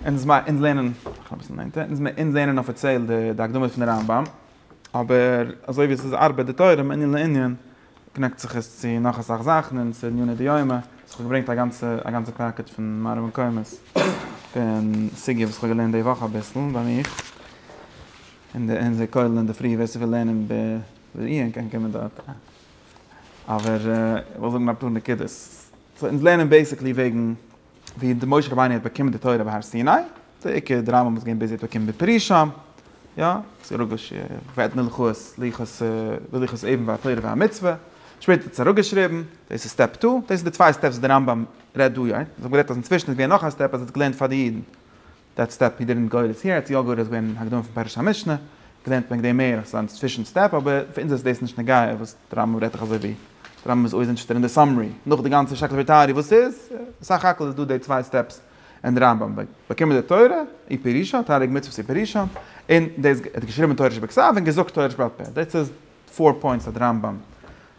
אונז לערנען אפיציעל די הקדמה פון הרמב ם, אבער אזוי ווי עס איז ארבעט די תורה מענין לענין, קנעקט זיך עס צו נאך אסאך זאכן און צו עניני דיומא, סאו כ'האב געברענגט א גאנצע א גאנצע פאקעט פון מראה מקומות פון סוגיא וואס כ'האב געלערנט די וואך אביסל ביי מיר אין די אין די כולל אינדערפרי, ווער ס'וויל לערנען בעיון קען קומען דארט, אבער כ'וועל זאגן אפאר נקודות, סאו אונז לערנען בעיסיקלי וועגן. ווי די משה רבינו האט באקומען די תורה בהר סיני, די עיקר דרמה וואס געווען ביז ער האט באקומען בפרי שם, יא, ס'רוגש ואת מלכות לוחות לוחות אבן והתורה והמצוה, שפעטער האט עס אראפגעשריבן, דאס איז סטעפ טו, דאס איז די צוויי סטעפס וואס די רמב ם רעדט דא יעצט, איך האב גערעדט אז אינצווישן איז געווען נאך א סטעפ אז ער האט געלערנט פאר די אידן, דעט סטעפ הי דידענט גאו דעס יער, צו יא גאו דעס געווען אין הקדמה פון פרשת המשנה, געלערנט וועגן דעם מער אזא אינצווישן סטעפ, אבער פאר אונז איז דאס נישט נוגע וואס די רמב ם רעדט דאך אזוי ווי די רמב ם איז אויס אינטערעסטעד אין די סאמערי, נאך די גאנצע שרעקליכע טעארי וואס איז, סך הכל איז דא די צוויי סטעפס אין די רמב ם, באקומען די תורה אי פירושא, תריג מצוות אי פירושא, און דאס ער האט געשריבן תורה שבכתב און געזאגט תורה שבעל פה, דאס איז פאר פוינטס אז די רמב ם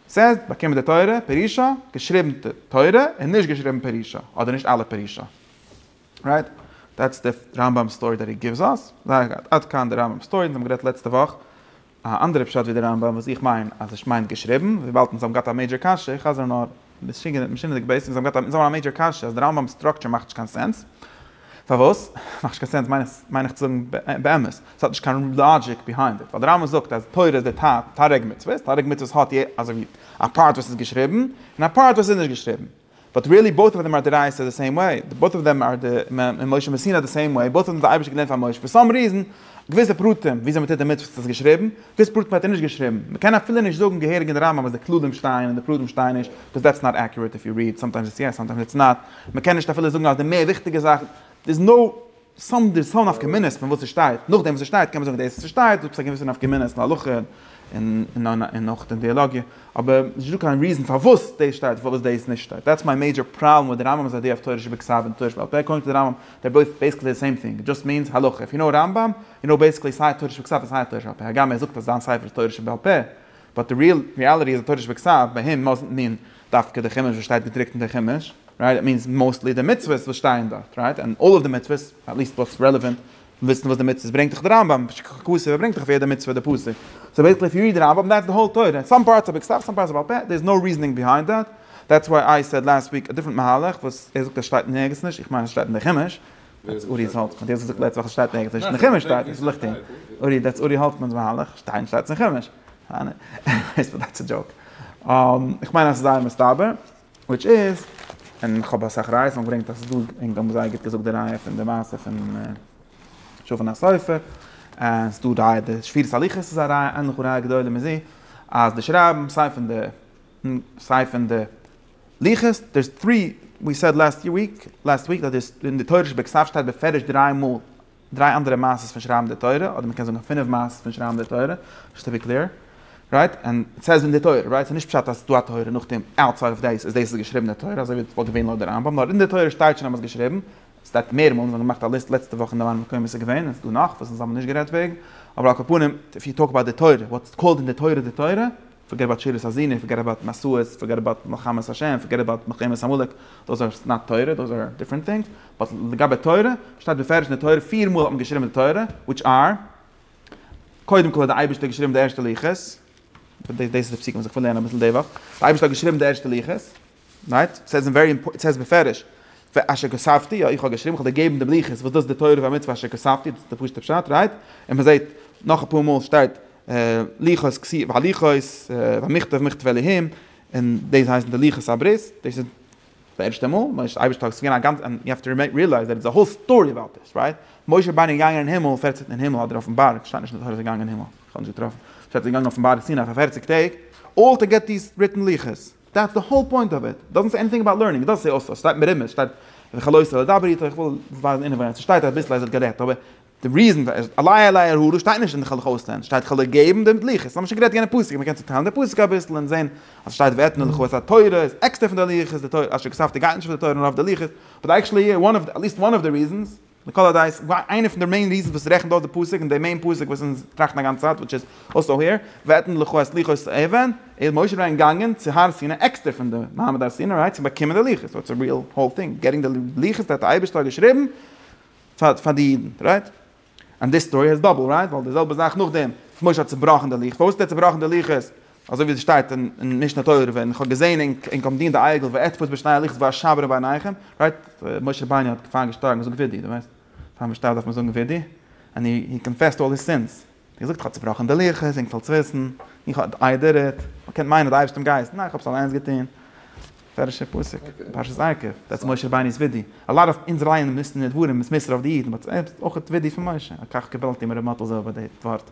סעיז, באקומען די תורה פירושא, געשריבן תורה און נישט געשריבן פירושא, אדער נישט אלע פירושא. רייט? דעטס די רמב ם סטארי דעט הי גיווס אס. זייער גוט. עד כאן די רמב ם סטארי. אונז האבן גערעדט לעצטע וואך א אנדערע פשט ווי די רמב ם וואס איך מיין אז עס מיינט געשריבן. וויבאלד אונז האבן געהאט א מעידזשער קשיא. איך חזר נאר משונה משונה'דיג בעיס. אונז האבן געהאט א אונז האבן א מעידזשער קשיא אז די רמב ם'ס סטראקטשער מאכט נישט קיין סענס. פארוואס? מאכט נישט קיין סענס מיין איך מיין איך צו זאגן באמת. עס האט נישט קיין לאגיק ביהיינד איט. ווייל די רמב ם זאגט אז תורה איז די ת תריג מצוות. תריג מצוות האט אזוי ווי א פארט וואס איז געשריבן. און א פארט וואס איז נישט געשריבן. באט ריעלי בויט אוו דעם אר די רייסער די סעים וועי, בויט אוו דעם אר די משה מסיני די סעים וועי, בויט אוו דעם האט די אייבערשטער געלערנט פאר משה, פאר סאם ריזען, געוויסע פרטים וויאזוי מען טוט די מצוות האט ער עס געשריבן, געוויסע פרטים האט ער נישט געשריבן, מען קען אפילו נישט זאגן געהעריג אין די רמב ם אז די כללים שטייען און די פרטים שטייען נישט, בקאז דעטס נאט עקיורעט איף יו ריעד, סאמטיימס איטס יעס סאמטיימס איטס נאט, מען קען נישט אפילו זאגן אז די מער וויכטיגע זאכן, דערס נאו. סתם די סאו נפקא מינה'ס פון וואס ס'שטייט, נאכדעם וואס ס'שטייט קען מען זאגן דאס וואס ס'שטייט האט עפעס א געוויסע נפקא מינה אין הלכה און און אויך אין דיאלאגיע, אבער ס'נישט דא קיין ריזען פארוואס דאס שטייט און פארוואס דאס נישט שטייט, דעטס מיי מעידזשער פראבלעם וויט די רמב ם'ס איידיע אויף תורה שבכתב און תורה שבעל פה, אקארדינג טו די רמב ם דער בויס בעיסיקלי די סעים טינג, דזשאסט מיענס הלכה, איף יו נאו רמב ם יו נאו בעיסיקלי סיי תורה שבכתב און סיי תורה שבעל פה, הגם ער זאגט אז זיין ספר איז תורה שבעל פה, באט די ריעל ריעליטי איז אז תורה שבכתב ביי אים מאזנט מין דווקא די חומש וואס שטייט געדרוקט אין די חומש, רייט? איט מינס מאוסטלי די מצוות וואס שטייען דארט, רייט? און אלל אוו די מצוות, עטליעסט וואס רעלעווענט, וויסן וואס די מצוות ברענגט דאך די רמב ם, שכ ח כ סיבה ברענגט דאך אויף יעדע מצוה די פסוק, סאו בעיסיקלי איף יו ריעד די רמב ם דעטס די האול תורה, סאם פארטס אר בכתב סאם פארטס אר בעל פה, דער איז נאו ריזענינג ביהיינד דעט, דעטס וואי איי סעד לאסט וויק א דיפרענט מהלך וואס ער זאגט אז שטייט נערגיץ נישט, איך מיין אז עס שטייט אין די חומש, דעטס אורי האלטמאן, האט יעצט געזאגט לעצטע וואך עס שטייט ערגעץ נישט אין חומש שטייט עס ליכט אהן אורי דעטס אורי האלטמאן'ס מהלך שטיין שטייט עס אין חומש עניוועיס באט דעטס א דזשאוק איך מיין אז עס איז זייער מסתבר וויטש איז און איך האב אסאך ראיות און געברענגט אז עס איז דא און האבן זייער גוט געזאגט די ראיה פון די מעשה פון שופן הסופר עס איז דא ראיה די שבירת הלוחות איז א ראיה ענליך וראיה גדולה מזו אז די שרייבן סיי פון די סיי פון די ליחות, דערס טרי, ווי סעד לעסט יער וויק, לעסט וויק, אז דערס, אין די תורה שבכ ס שטייט בפירוש דריי מאל, דריי אנדערע מעשות פון שרייבן די תורה, אדער מ'קען זאגן פינף מעשות פון שרייבן די תורה, זשאסט טו בי קלעיר, רייט, ענד איט סעיז אין די תורה, רייט, ס'איז נישט פשט אז ס'דא א תורה נאכדעם, אוטסייד אוו דעיס, אז דעיס איז געשריבן די תורה, אזוי ווי וואלט געווען לויט די רמב ם, נאר אין די תורה שטייט שוין אז מ'האט געשריבן, ס'שטייט מער מאל, מיר האבן געמאכט א ליסט לעצטע וואך אין די וואנען מקומות ס'איז געווען, און ס'איז דא נאך וואס אונז האבן נישט גערעדט וועגן, אבער על כל פנים, איף יו טאלק אבאוט די תורה, וואטס קאלד אין די תורה די תורה, פארגעט אבאוט שירת הזיני, פארגעט אבאוט מסעות, פארגעט אבאוט מלחמת השם, פארגעט אבאוט מלחמת עמלק, דאס איז נאט תורה, דאס איז דיפרענט טינגס, באט לגבי תורה, שטייט בפירוש אין די תורה, פיר מאל האט מען געשריבן די תורה, וויטש אר, קודם כל האט די אייבערשטער געשריבן די ערשטע לוחות, דאס איז די פסוקים וואס איך וויל לערנען אביסל די וואך, די אייבערשטער האט געשריבן די ערשטע לוחות, רייט? סעז אין ווערי אימפארטענט, סעז בפירוש ואשר כספתי, יא איך האב געשריבן, איך האב דיר געגעבן די בליחות וואס דאס איז די תורה והמצוה אשר כספתי, דאס איז די פשוטע פשט, רייט? און מען זעט נאך אפאר מאל שטייט לוחות כסי' והלוחות, והמכתב מכתב אלהים, און דאס הייסן די לוחות הברית, דאס איז די ערשטע מאל, מוישע די אייבערשטער האט עס געווען א גאנצע, און יו העוו טו ריעלייז דעט איז א האול סטארי אבאוט דיס, רייט? משה רבינו איז געגאנגען אין הימל פערצענט אין הימל אדער אויפן בארג, כ'שטיי נישט אין די תורה אז ער איז געגאנגען אין הימל, כ'האב נישט געטראפן, שטייט אז ער איז געגאנגען אויפן בארג סיני פאר פערציג טעג, אל תגעתיס ריטן לוחות. דעטס די האול פוינט אוו איט, דאזנט סעי עניטינג אבאוט לערנינג, דאס איז אסור, ס'שטייט מרומז, ס'שטייט וכלא איסור לדבר איתו, איך וויל ווייזן אינעווייניג, ס'שטייט אביסל אז ער האט גערעדט, אבער די ריזען, עלי' עלי' הרהורים שטייט נישט אין כ'העל דיך אויסלערנען, שטייט כ'העל דיר געבן די לוחות, ס'האמיר שוין גערעדט יענע פסוק, מ'קען צוטיילן די פסוק אביסל און זען אז ס'שטייט ואתנה לך וואס א תורה איז עקסטער פון די לוחות, די תורה, אשר כתבתי גייט נישט אויף די תורה נאר אויף די לוחות, באט עקשעלי יא, עטליסט וואן אוו די ריזענס. לכל הדעות, איינע פון די מעין ריזענס וואס רעכנט אויס די פסוק, און די מעין פסוק וואס אונז טראכטן אגאנצע צייט, וויטש איז אסא העיר, ואתן לך את לוחות האבן, איז משה רבינו געגאנגען צו הר סיני עקסטער פון די מעמד הר סיני רייד צו באקומען די לוחות, סאו איטס א ריעל האול טינג, געטינג די לוחות האט די אייבערשטער געשריבן פאר פאר די אידן, רייט? ענד דיס סטארי האט דאבל, רייט? ווייל די זעלבע זאך נאכדעם וואס משה האט צובראכן די לוחות, פארוואס האט ער צובראכן די לוחות? אזוי ווי עס שטייט אין משנה תורה ווען איך האב געזען אין אין קאמט דינען די אייגל וועט פוס בשניי הליכות וואר שבר בעיניכם רייט משה רבינו האט געפאר געשטארגן זאג ווידי די ווייסט פאר משטארב דארף מען זאגן ווידי ענד הי הי קאנפעסט אלל היז סינס די געזאגט איך האב צובראכן די לוחות אינג פאלס וויסן איך האב איי דיד איט מען קען מיינען די אייבערשטען גייסט ניין איך האב עס אליינס געטון פערשער פסוק פרשת עקב דעטס משה רבינו'ס ווידי א לאט אוו אונז לייענען ניסן און נדבורין איז מסר אויף די אידן באט עפעס אויך ווידי פון משה א קאך קיבלתי מר' מאטל זאב די ווארט.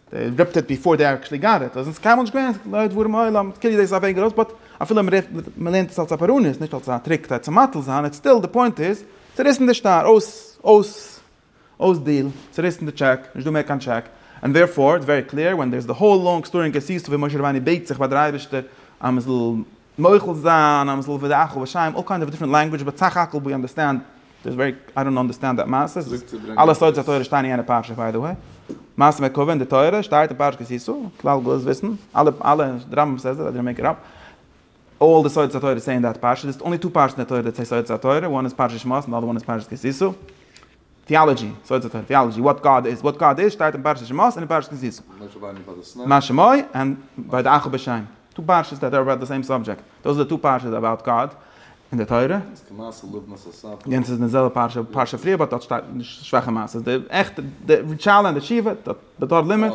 דער רב טוט ביפאר דער אקשלי גאר עפעס, און ס'איז קיינמאל נישט געווען לאור דברים העולם, קרי דאס איז א וועג ארויס, באט אפילו מ'לערנט עס אלס א פאראניע, נישט אלס א טריק כדי צו מתל זיין, איטס סטיל די פוינט איז, צוריסן די שטר, אויס, אויס, אויס דיל, צוריסן די טשעק, נישט דא מער קיין טשעק, און דערפאר איטס ווערי קלעיר, ווען דער איז די האול לאנג סטארי און קעסיסטע ווי משה רבינו בעט זיך ביי דער אייבערשטער אז מ'זאל מוחל זיין איי'ם זאל ווידער אכל ושיים אול קיינד אוו דיפרענט לענגווידזש באט סך הכל ווי אנדערסטענד דער וועג איי דאנט אנדערסטענד דעט מעשה ס'איז אלע סודות התורה שטייען אין יענע פרשה ביי די וועי מעשה מרכבה אין די תורה שטייט אין פרשת כי תשא כלל גדול איז וויסן אלע אלע די רמב ם סעיס דעט די רמי ק רב אול די סודות התורה סעי אין דעט פרשה דערס אנלי טו פרשת אין די תורה דעט סעי סודות התורה וואן איז פרשת שמות און די אדער וואן איז פרשת כי תשא. טיאלאגי, סוד התורה, טיאלאגי, וואט גאד איז, וואט גאד איז שטייט אין פרשת שמות און אין פרשת נזיר. משה רבינו ביי די סיני. משה מוי און ביי די אחו בשם. טו פרשת דעט אר אבאוט די סעים סאבדזשעקט. דאס איז די טו פרשת אבאוט גאד אין די תורה. איז כמעשה לבנת הספר. יענס איז די זעלבע פרשה, פרשה פריער באט דארט שטייט שוואכע מעשה. די עכטע, די ריטשאלע און די תשובה, די תורה לימוד.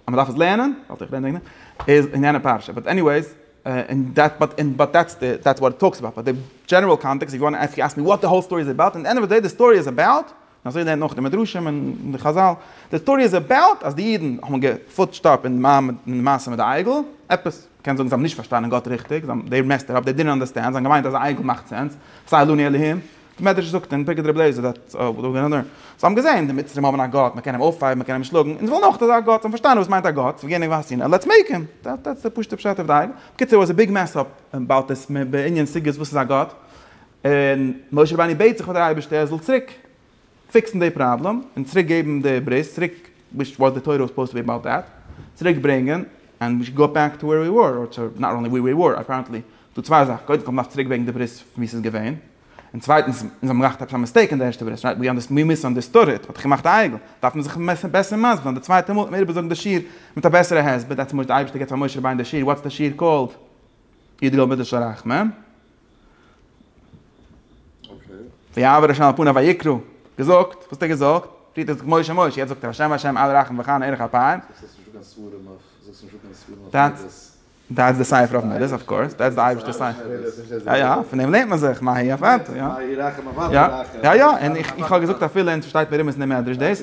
אז מ'דארף עס לערנען, וואלט איך גערעדט איז אין יענע פרשה, באט עניוועיס, און דעט באט און באט דעטס די דעטס וואט איט טאלקס אבאוט, באט די דזשענעראל קאנטעקסט איף יו וואנט עפ יו עסק מי וואט די האול סטארי איז אבאוט, אין די ענד אוו די דעי די סטארי איז אבאוט, און אזוי לערנט מען אויך די מדרשים און די חזל, די סטארי איז אבאוט אז די אידן האבן געפוטשט אפ אין די מעשה מיט די עגל, עפעס, מ'קען זאגן זיי האבן נישט פארשטאנען גאט ריכטיג, זיי האבן דעי מעסט איט אפ, דעי דינט אנדערסטענד, זיי האבן געמיינט אז א עגל מאכט סענס, סא עלו נא אלהים, מדרש זאגט אין בגד רב לעזער דאט זיי האבן געזען די מצרים האבן א גאט מען קען אים אויפהייבן מען קען אים שלאגן אונז ווילן אויך אזא גאט זיי האבן פארשטאנען וואס מיינט א גאט ווי גענוג ווייסט יענער לעטס מעיק הים דעטס די פשוטע פשט אויף די אייוועלט בקיצור איט וואס א ביג מעס אפ אבאוט דעס בענין סוגיות וואס איז א גאט און משה רבינו בעט זיך פאר די אייבערשטער ער זאל צוריק פיקסן די פראבלעם און צוריק געבן די ברית צוריק וויטש וואס די תורה וואס סופאוזט טו בי אבאוט דעט צוריק ברענגען ענד וויש גאט בעק טו ווער ווי וואר אר טו נאט אנלי ווי ווי וואר אפערענטלי דא צוויי זאכן קודם כל מ'דארף צוריק ברענגען די ברית ווי ס'איז געווען און צווייטנס אונז האבן געמאכט עפעס א מיסטעיק אין די ערשטע ברית רייט ווי מיס אנדערסטאד איט מ'האט דאך געמאכט א עגל דארף מען זיך בעסער מסביר זיין די צווייטע מאל דארף מען איבער זאגן די שיעור מיט א בעסערע הסבר דעטס מש די אייבערשטער געבט פאר משה רבינו די שיעור וואטס די שיעור קאלד ידגל מיט די שרח מ. ויעבור השם על פניו ויקרא, געזאגט, וואס האט ער געזאגט? פריערט האט ער געזאגט משה משה, יעצט זאגט ער השם השם אל ירחם וכהנה ערך אפיים. דעטס די ספר אויף מדות, אויף קאורס, דעטס די אייבערשטער ספר. יא יא, פון דעם לערנט מען זיך מה היא עבדתו, יא. יא יא, און איך האב געזאגט אפילו אונז פארשטייט מיר אומעט אין די מדרש דאס.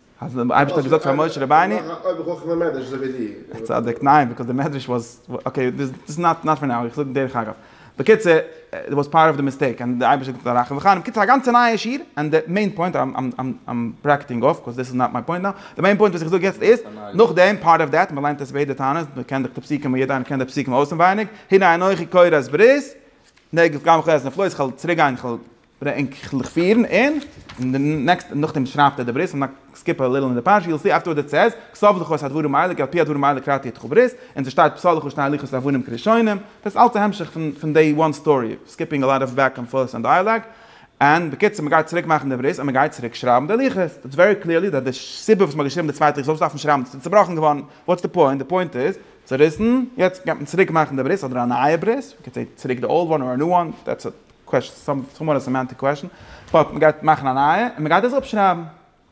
אז דער אייבערשטער האט געזאגט פאר משה רבינו. א צדיק, ניין, ביקאוז די מדרש וואס, אקעי, דאס איז נאט פאר נאו, איך זאג דרך אגב. בקיצור, דעט וואס פארט אוו די מיסטעיק, און דער אייבערשטער האט געזאגט א רחום וחנון, בקיצור א גאנצע נייע שיעור, און די מעין פוינט, איים ברעקעטינג אףף, ביקאוז דעס איז נאט מיי פוינט נאו, די מעין פוינט וואס איך זאג יעצט איז, נאכדעם, פארט אוו דעט, מ'ליינט עס ביידע טענות, מ'קען דאך די פסוקים, יעדער איינער קען די פסוקים אויסענווייניג, הנה אנכי קורא את ברית, נגף גם חז נפלאות, כ'וועל צוריקגיין, כ'וועל ברענג איך לכ' פירן און אין די נעקסטע נאכדעם שרייבט ער די ברית און נאך סקיפ א ליטל אין די פרשה יו וויל סי אפטערווארדס איט סעז כסוף לכאוס הדברים האלה כי על פי הדברים האלה כרתתי אתך ברית און ס'שטייט פסלו כשני הליכות לבנים כראשונים דאס אלס א המשך פון פון דעי וואן סטארי סקיפינג א לאט אוו בעק ענד פארס און דייאלאג און בקיצור מ'גייט צוריק מאכן די ברית און מ'גייט צוריק שרייבן די הליכות איטס ווערי קליערלי דעט די סיבה וואס מ'האט געשריבן די צווייטע איך זאל נישט דארפן שרייבן ס'איז צובראכן געווארן וואטס די פוינט די פוינט איז צוריסן יעצט גייט מען צוריק מאכן די ברית אדער א נייע ברית יו קען סעי צוריק די אולד וואן אר א ניו וואן דעטס איט. קוועשן, סאו סאו מאר א סעמענטיק קוועשן, באט מ'גייט מאכן א נייע און מ'גייט דאס אפשרייבן,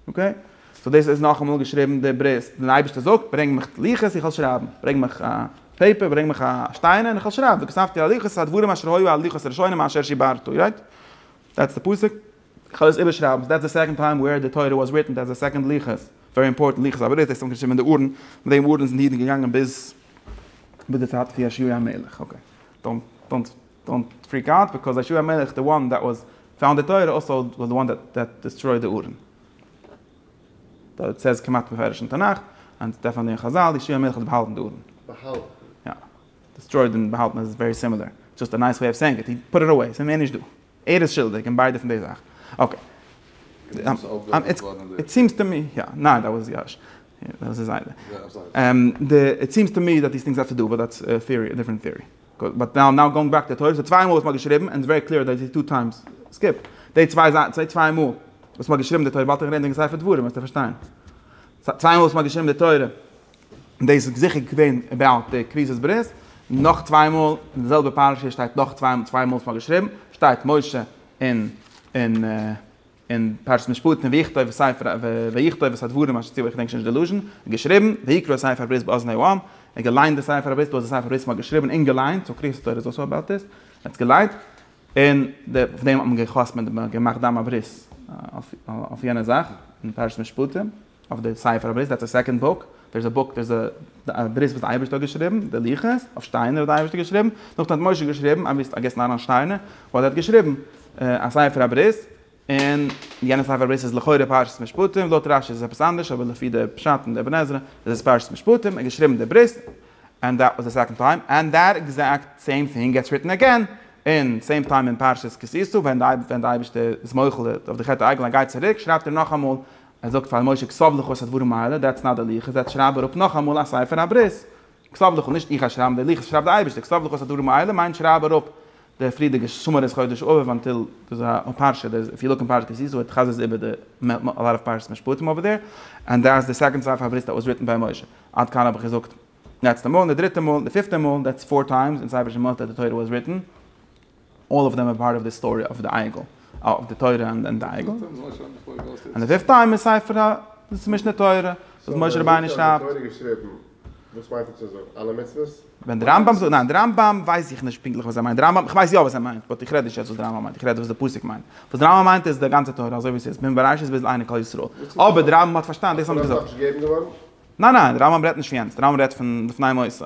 אקעי? סאו דאס איז נאכאמאל געשריבן די ברית, דער אייבערשטער זאגט, ברענג מיך לוחות איך וועל שרייבן, ברענג מיך א פעיפער, ברענג מיך א שטיינער און איך וועל שרייבן, וכתבתי על הלוחות את הדברים אשר היו על לוחות הראשונים אשר שיברתו, רייט? דעטס די פסוק, איך וועל עס איבערשרייבן, דעטס די סעקאנד טיים ווער די תורה וואס ריטען, דעטס די סעקאנד לוחות, ווערי אימפארטענט לוחות הברית, דאס האט מען געשריבן אין די ארון, מיט דעם ארון זענען די אידן געגאנגען ביז ביז די צייט פון יאשיהו המלך, אקעי, דאנט דאנט. דאנט פריק אוט ביקאוז ישו המלך די וואן דעט וואס פאונד די תורה אלסא וואס די וואן דעט דיסטרויד די ארון. דארט סאיז כמעט מפורש אין תנך און דעפענטלי אין חזל ישו המלך האט באהאלטן די ארון. באהאלטן. יא. דיסטרויד און באהאלטן איז ווערי סימילער. דזשאסט א נייס וועי אוו סעינג איט. הי פוט איט אוועי. סאיז מער נישט דא. ער איז שולדיג אין ביידע פון די זאכן. אקעי. איט סימס טו מי. יא. ניין דעט וואס יאש. דאס איז זיידע. איט סימס טו מי דעט דיס טינגס האט טו דו וויט דעט דיפערענט טעארי. באט נאו נאו גאוינג בעק טו תורה ס'איז צוויי מאל וואס מ'האט געשריבן און ס'איז ווערי קלעיר דעט איז טו טיימס סקיפ די צוויי זיי צוויי צוויי מאל וואס מ'האט געשריבן די תורה ווייל תיכף רעדן וועגן ספר דברים וועסטו פארשטיין צוויי מאל וואס מ'האט געשריבן די תורה דאס איז זיכער געווען אבאוט די כריתות ברית נאך צוויי מאל אין די זעלבע פרשה שטייט נאך צוויי צוויי מאל וואס מ'האט געשריבן שטייט משה און און. אין פרשת משפטים ויכתוב ספר ויכתוב את הדברים אשר ציווה איך געדענק שוין נישט די לשון, האט געשריבן, ויקרא ספר הברית באזני העם, ער האט געליינט די ספר הברית וואס די ספר הברית האט געשריבן און געליינט, סאו קריאת התורה איז אויך אבער עפעס, ער האט עס געליינט, און אויף דעם האט מען גע'חתמ'עט, געמאכט דם הברית אויף יענע זאך, אין פרשת משפטים. אויף די ספר הברית, דעטס די סעקאנד בוק, דער איז א בוק, דער איז א ברית וואס די אייבערשטער האט געשריבן, די לוחות, אויף שטיינער האט די אייבערשטער געשריבן, נאכדעם האט משה געשריבן, אבי ס'איז פארגעסן אהרן שטיינער, וואס ער האט געשריבן, א ספר הברית, און יענע ספר הברית איז לכאורה פרשת משפטים, לויט רשי איז עס עפעס אנדערש, אבער לפי די פשט אין די אבן עזרא איז עס פרשת משפטים, ער האט געשריבן די ברית, ענד דעט וואס די סעקאנד טיים, ענד דעט עקזעקט סעים טינג געטס ריטען אגעין, אין סעים טיים אין פרשת כי תשא, ווען די אייבערשטער איז מוחל אויף די חטא העגל, ער גייט צוריק, שרייבט ער נאכאמאל ער זאגט פאר משה כסב לך עשה דברים האלה, דעטס נאט די לוחות, דעטס שרייב אראפ נאכאמאל א ספר הברית. כסב לך, נישט איך א שרייבן די לוחות, שרייב די אייבערשטער כסב לך עשה דברים האלה מיינט שרייב אראפ די פריערדיגע שמורת חודש אביב אנטיל די פרשה, די איף יו לוק אין פרשת כי תשא איט חזר'ס איבער די אלאט אוו פרשת משפטים אווער דער, ענד דעס די סעקאנד ספר הברית דעט וואס ריטן ביי משה, עד כאן האב איך געזאגט די לעצטע מאל, און די דריטע מאל, די פיפטע מאל, דעטס פאר טיימס אין ספר שמות דעט די תורה וואס ריטן. אלל אף דעם אר פארט אף די סטארי אף די עגל, אף די תורה אנד די עגל. אנד די פיפט טיים איז ספר ה די משנה תורה וואס משה רבינו שרייבט. וואס מיינט ער צו זאגן? אלע מצוות? ווען די רמב ם זאגט, ניין די רמב ם ווייס איך נישט פונקטליך וואס ער מיינט, די רמב ם, כ'ווייס יא וואס ער מיינט, באט איך רעד נישט יעצט וואס די רמב ם מיינט, איך רעד וואס די פסוק מיינט, וואס די רמב ם מיינט איז די גאנצע תורה אזוי ווי ס'איז פון בראשית ביז עיני כל ישראל, אבער די רמב ם האט פארשטאנען דאס האט מען געזאגט. ניין ניין די רמב ם רעדט נישט פון יענץ, די רמב ם רעדט פון לפני מוסר.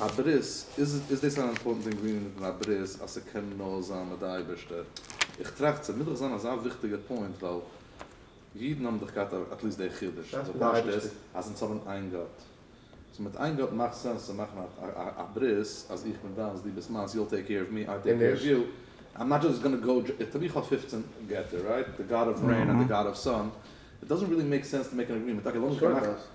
א ברית, איז דאס אן אימפארטענט אינגרידיענט אין א ברית אז ס'קען נאר זיין מיט די אייבערשטער? איך טראכט ס'מוז דאך זיין אזא וויכטיגע פוינט ווייל אידן האבן דאך געהאט אטליסט די חידוש אז די פשט איז אז אונז האבן איין גאט סאו מיט איין גאט מאכט סענס צו מאכן א ברית אז איך בין דיינס דו ביסט מיינס יו טעיק קעיר אוו מי איי טעיק קעיר אוו יו איים נאט דזשאסט גאנא גאו דזשאסט טו מי איך האב פֿופֿצן געטער רייט די גאד אוו רעין און די גאד אוו סאן איט דאזענט רילי מעיק סענס טו מעיק אן אגרימענט אקעי לאמיר זיך געמאכן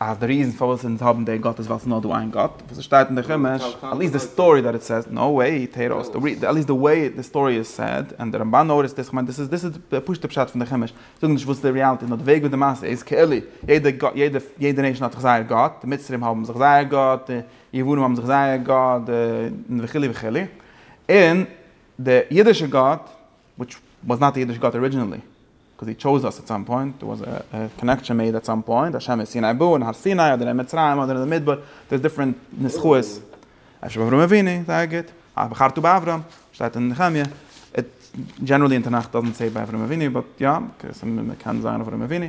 אז די ריזן פארוואס אונז האבן די גאט איז ווייל ס'איז נאר דא איין גאט, וואס עס שטייט אין די חומש, עטליעסט די סטארי דעט איט סעיז, נאו וועי, טער אויס די ריזן, עטליעסט די וועי די סטארי איז סעד, און די רמבן נארישט דאס, כ'מיין דאס איז דאס איז די פשוט'ע פשט פון די חומש, זאגן נישט וואס די ריאליטי, נאר די וועג ווי די מעשה איז, כאילו יעדע נעישאן האט זיך זייער גאט, די מצרים האבן זיך זייער גאט, די יוונים האבן זיך זייער גאט, די וכו' וכו', און די אידישע גאט, וויטש וואס נאט אידיש גאט ארידזשינעלי, קאוז הי טשאוז אס עט סאם פוינט, דער וואס א קאנעקשען מעיד עט סאם פוינט, השם איז סיני בו, אין הר סיני, אדער אין מצרים, אדער אין די מדבר, דאס דיפרענט ניסחאות, אפשר באברהם אבינו, זייער גוט, אה בחרתו באברהם, שטייט אין נחמיה, איט דזשענערלי אין תנך דאזענט סעי ביי אברהם אבינו, באט יא, קען זיין אברהם אבינו,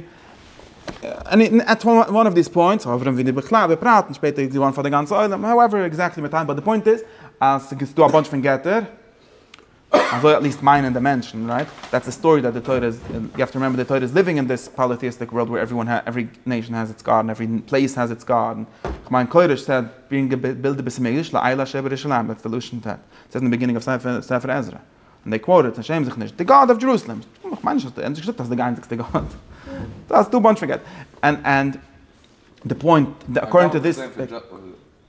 עני עט וואן אוו דיס פוינטס, אדער אברהם אבינו בכלל בפרט, און שפעטער איז געווארן פאר די גאנצע עולם, האועווער עקזעקטלי מיט טיים, באט די פוינט איז, אז ס'איז דא א באנטש פון געטער, אזוי עט ליסט מיינען די מענטשן, רייט? דעטס די סטארי דעט די תורה איז, יו העוו טו רימעמבער די תורה איז ליווינג אין דיס פאליטעיסטיק ווארלד וועיר עוועריוואן העז, עווערי נעישאן העז איטס גאד און עווערי פלעיס העז איטס גאד און כ'מיין קודש סע ברענגט די בילד די בית המקדש לעיל השב ירושלים דעטס די לשון ט' סעט אין די ביגינינג אוו ספר ספר עזרא און דעי קוואוט איט און שעם זיך נישט די גאד אוו דזשערוסלעם כ'מיין נישט אז די ענדזשעס געזאגט אז די גאנציקסטע גאד דאס טו באנטש פארגעט ענד ענד די פוינט אקארדינג טו דיס.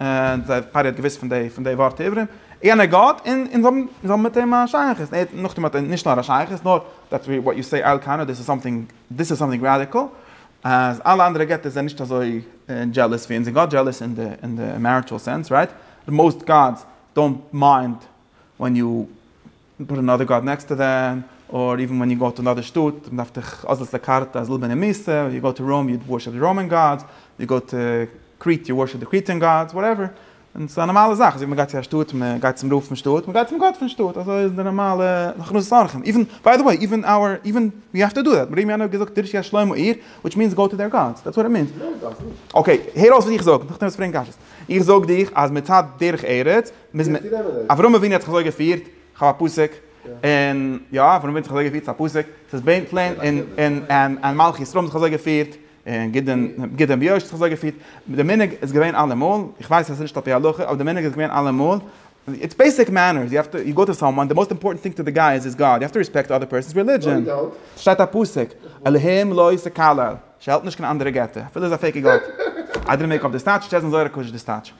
און זיי פאר ער האט געוואוסט פון די פון די ווארט עברים, יענער גאט, און און זיי האבן מיט אים א שייכות, און ער האט נאכדעם האט ער נישט נאר א שייכות, נאר דעטס ווי וואט יו סעי על קאנא, דאס איז סאמטינג, דאס איז סאמטינג ראדיקעל, אז אלע אנדערע געטער זענען נישט אזוי דזשעלעס ווי אונזער גאט, דזשעלעס אין די אין די מעריטשעל סענס, רייט? די מאוסט גאדס דאונט מיינד ווען יו פוט אנאדער גאד נעקסט טו דעם, אר איווען ווען יו גאו טו אנאדער שטאט, מען דארף דיך אזאנס א קארטע אז לבן איז מיסע, יו גאו טו ראום יו ווארשיפ די ראמען גאדס, יו גאו טו קרית יו ווארשיפ די קריטען גאדס, וואטעווער, און ס'איז א נארמאלע זאך, אזוי ווי מען גייט צו א שטאט, מען גייט צום רב פון שטאט, מען גייט צום גאט פון שטאט, אזוי איז די נארמאלע הכנסת אורחים, איווען, ביי די וועי, איווען אווער, איווען ווי אפטער דא דעט, ר' ירמיהו האט געזאגט דרשו אז שלמה עיר, וויטש מינס גאו טו דעיר גאדס, דעטס וואט איט מינס. אקעי, הער אויס וואס איך זאג, נאכדעם וועסטו פרעגן קשיות. איך זאג דיך אז מצד דרך ארץ, מוז מען, אברהם אבינו האט זיך אזוי געפירט, כ'האב א פסוק, און יא אברהם אבינו האט זיך אזוי געפירט, ס'איז א פסוק, ס'איז בעין פלעין און און מלכי ישראל האבן זיך אזוי געפירט, און גדעון גדעון ביאש האט זיך אזוי געפירט, די מנהג איז געווען אלעמאל, איך ווייס אז עס איז נישט על פי הלכה, אבער די מנהג איז געווען אלעמאל, איטס בעיסיק מענערס, יו העוו טו, יו גאו טו סאמוואן, די מאוסט אימפארטענט טינג טו די גאי איז היז גאד, יו העוו טו רעספעקט אדער פערסאנס רעלידזשען, ס'שטייט א פסוק, אלהים לא יסתכל על, ס'העלפט נישט קיין אנדערע געטער, אפילו איז א פעיקע גאט, איידער מען מעג אויף די סטייטש, טשעזן זוהר הקדוש די סטייטש.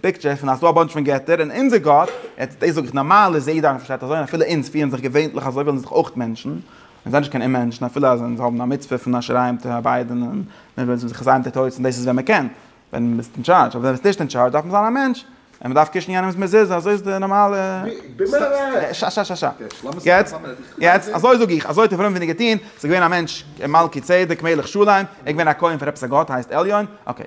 פיקטשער פון אז ס'דא א באנטש פון געטער און אונזער גאט, יעצט דאס זאג איך נארמאל איז יעדער איינער פארשטייט אזוי און אפילו אונז פירן זיך געווענליך אזוי ווילן זיך אויך מענטשן, אונז זענען נישט קיין אוממענטשן אפילו אז אונז האבן א מצוה פון אשר ע ת אביידען און מיר ווילן זיך זיין מיט די טויט און דאס איז ווען מ'קען ווען מ'איז אין טשארדזש אבער ווען מ'איז נישט אין טשארדזש דארף מען זיין א מענטש און מ'דארף קישן יענעמ'ס מזוזה אזוי איז די נארמאלע יעצט יעצט אזוי זאג איך אזוי האט אברהם אבינו געטוהן ס'איז געווען א מענטש מלכי צדק מלך שלום ער איז געווען א כהן פאר עפעס א גאט הייסט עליון אקעי.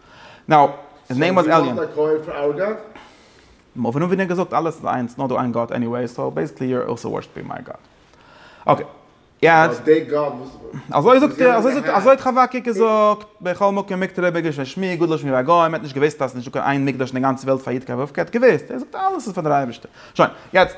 נאו, היז נעים וואס עליען. סאו דו וואלסט א כופר אווער גאט? מובן און ווי נאר געזאגט אלעס איז איינס נאר דא איין גאט עניוועי סאו בעסיקלי יו אר אלסא ווארשיפינג מיי גאד אקעי יעצט. נאר די גאט וואס אזוי זאגט ער אזוי זאגט אזוי האט חבקוק געזאגט בכל מקום מקטר רבי גרשון שמי' גדול שמי ביי גוים ער האט נישט געוויסט אז ס'איז נישטא קיין איין מקדש אין די גאנצע וועלט פאר יו ט כ ו כ ו ער האט געוויסט אז אלעס איז פאר די אייבערשטער שוין יעצט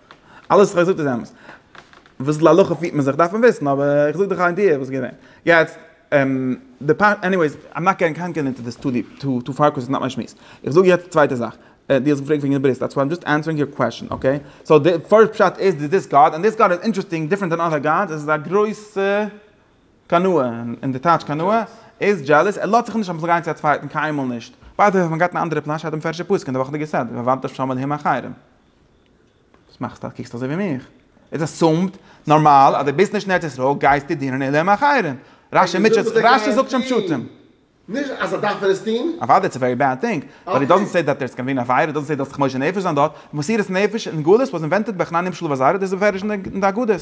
אלעס וואס איך האב געזאגט איז אמת. וויאזוי להלכה פירט מען זיך דארף מען וויסן, אבער איך זאג דיך א איידיע וואס איז געווען. יעצט, די פשט, עניוועיס, איים נאט געטינג קאנקערן אינטו דיס טו דיפ, טו טו פאר, קאוז ס'איז נאט מיין שמועס. איך זאג יעצט די צווייטע זאך. דו האסט געפרעגט וועגן די ברית, דעטס וואט איים דזשאסט ענסערינג יור קוועסטשן, אקעי? סאו די פשט איז דאס איז דיס גאט, און דיס גאט איז אינטערעסטינג, דיפרענט דען אדער גאדס, עס איז א גרויסע קנאה, און די טייטש קנאה איז דזשעלעס, ער לאזט זיך נישט אביסל גיין צו א צווייטן, קיינמאל נישט. ביי די וועי, מען גייט אין א אנדערע פלאש, שרייבט די מפרש די פסוק אין די וואכעדיגע סדר, ועבדתם שם אלהים אחרים. וואס מאכסטו קוקסט אזוי ווי מיך? איז עסומד, נארמאל, אז דו ביסט נישט אין ארץ ישראל גייסטו דינען אין עולם אחרים. רשי זאגט שוין פשטים. נישט אז ער דארף ער עס טוהן. אוודאי איטס א ווערי בעד טינג, באט איט דאזענט סעי דעט דערס גאנא בי אן עבירה, דאזענט סעי דו האסט דיך מוסר נפש זיין דארט, מסירת נפש אין גלות וואס אינווענטעד ביי חנניה בשלב הז', דאס איז בפירוש אין די אגדות.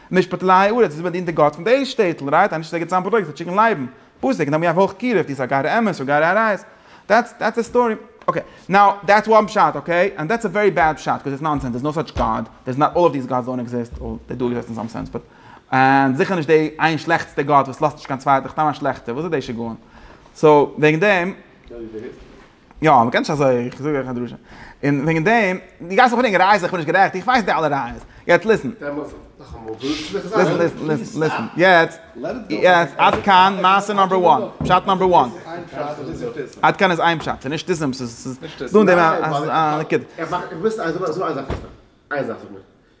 משפט עלי הארץ איז באדינט די גאט פון דעיס שטעטל רייט אנישט זיי געבט צאם פראדוקטס פאר טשיקן לייבן פאסיג נאר מיר האב הויך קירוב די סאגארע אמת סאגארע ארייס דעטס דעטס די סטארי אקעי נאו דעטס וואן פשט אקעי אנד דעטס א ווערי בעד פשט קאוז איטס נאנסענס דערס נאו סאטש גאד דערס נאט אלל אוו דיס גאדס דאנט עקזיסט וועל דעי דו עקזיסט אין סאם סענס באט אנד זיכער נישט דעי איין שלעכטסטע גאט וואס לאזט נישט קיין צווייטע כ'טענה א שלעכטע וואס איז דעי שגעון סאו וועגן דעם. יא, מען קען נישט אזוי, איך זאג אייך א דרשה. און וועגן דעם, דו גייסט מיך פרעגן ראיות, איך בין נישט גערעכט, איך ווייס די אלע ראיות. יעצט ליסן. ליסן, ליסן, ליסן, ליסן. יעצט, יעצט, עד כאן מעשה נאמבער וואן. פשט נאמבער וואן. עד כאן איז איין פשט, ס'איז נישט טיסם, ס'איז דא אין דעם א נקודה.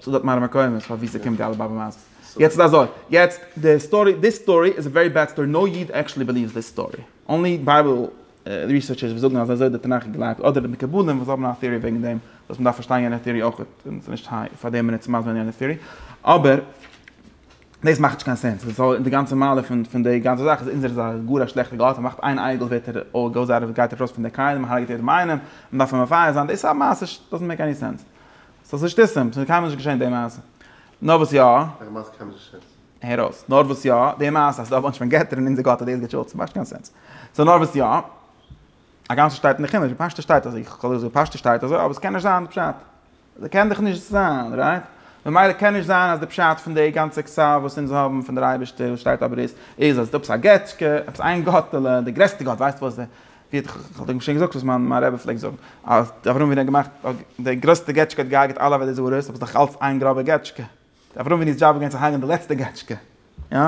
ס'איז דארט מראה מקומות פאר ווי ס'קומט די אלע באבע מעשות. יעצט איז אזוי, יעצט די סטארי, דיס סטארי איז א ווערי בעד סטארי, נאו איד עקשעלי בעליווס דיס סטארי, אנלי בייבל ריסערטשערס וואס זאגן אז אזוי האט די תנך געגלייבט, אדער די מקובלים וואס האבן א תיאורי וועגן דעם, וואס מ'דארף פארשטיין יענע תיאורי אויך, און ס'איז נישט היי פאר דעם מינוט צו מסביר יענע תיאורי, אבער דאס מאכט נישט קיין סענס, וויאזוי און די גאנצע מעלה פון פון די גאנצע זאך איז אונזערע איז א גאר א שלעכטע גאט, מ'מאכט איין אייגעל ווערט ער אויל גאוז אוט אוו גייט ארויס פון די כלים, מ'הארגעט יעדעם איינעם, מ'דארף אים מפייס זיין, דאס איז א מעשה דאזענט מעיק עני סענס. ס'איז נישט טיסים, ס'איז קיינמאל נישט געשען די מעשה. נאר וואס יא. וועלכע מעשה קיינמאל נישט געשען? הער אויס. נאר וואס יא, די מעשה אז ס'איז דא א באנטש פון געטער און אונזער גאט האט דאס געשאצן, מאכט נישט קיין סענס. סאו נאר וואס יא. הגם ס'שטייט אין די חומש, בפשטות שטייט אזוי. איך האב ליב ווי פשטות שטייט אזוי, אבער ס'קען נישט זיין די פשט. ס'קען דאך נישט זיין, רייט? ממילא קען נישט זיין אז די פשט פון די גאנצע כסף וואס אונז האבן פון דער אייבערשטער וואס שטייט אויף ברית, איז אז ס'איז עפעס א געטשקע, עפעס איין גאטעלע, די גרעסטע גאט, ווייסט וואס? ווי האט איך דען שוין געזאגט וואס מיין מיין רבי פלעגט זאגן אז די אברהם אבינו האט געמאכט די גרעסטע געטשקע האט געהארגעט אלע עבודה זרות אבער ס'דאך אלץ איין גראבע געטשקע די אברהם אבינו איז דזשאב איז געווען צו הרג'ען די לעצטע געטשקע יא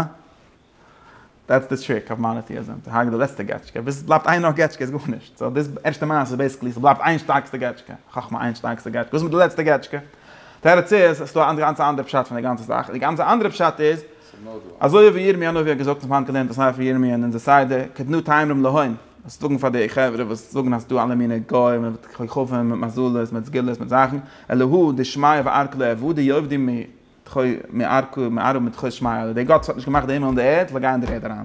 דעטס די טריק אויף מאנאטיעזים צו הרג'ען די לעצטע געטשקע ביז ס'בלייבט איין נאך געטשקע איז גארנישט סאו דאס ערשטע מעשה איז בעיסיקלי ס'בלייבט איין שטארקסטע געטשקע חכמה איין שטארקסטע געטשקע וואס איז מיט די לעצטע געטשקע תירוץ איז ס'דא א גאנצע אנדערע פשט פון די גאנצע זאך די גאנצע אנדערע פשט איז אזוי ווי ירמי' הנביא האט געזאגט, איך האב היינט געלערנט א ספר ירמי' אין אונזער סדר, קדנו תאמרים להם, זאלסט זאגן פאר די חברה וואס זאגן אז ס'דא אלע מינע גוים מיט כוכבים מיט מזלות מיט סגולות מיט זאכן, אלהא דשמיא וארכה לא עבדו די עובדים מתחו מארכה מארכה מתחו שמיא, די גאט וואס האט נישט געמאכט די הימל און די ערד זאל גיין אין די ערד אריין.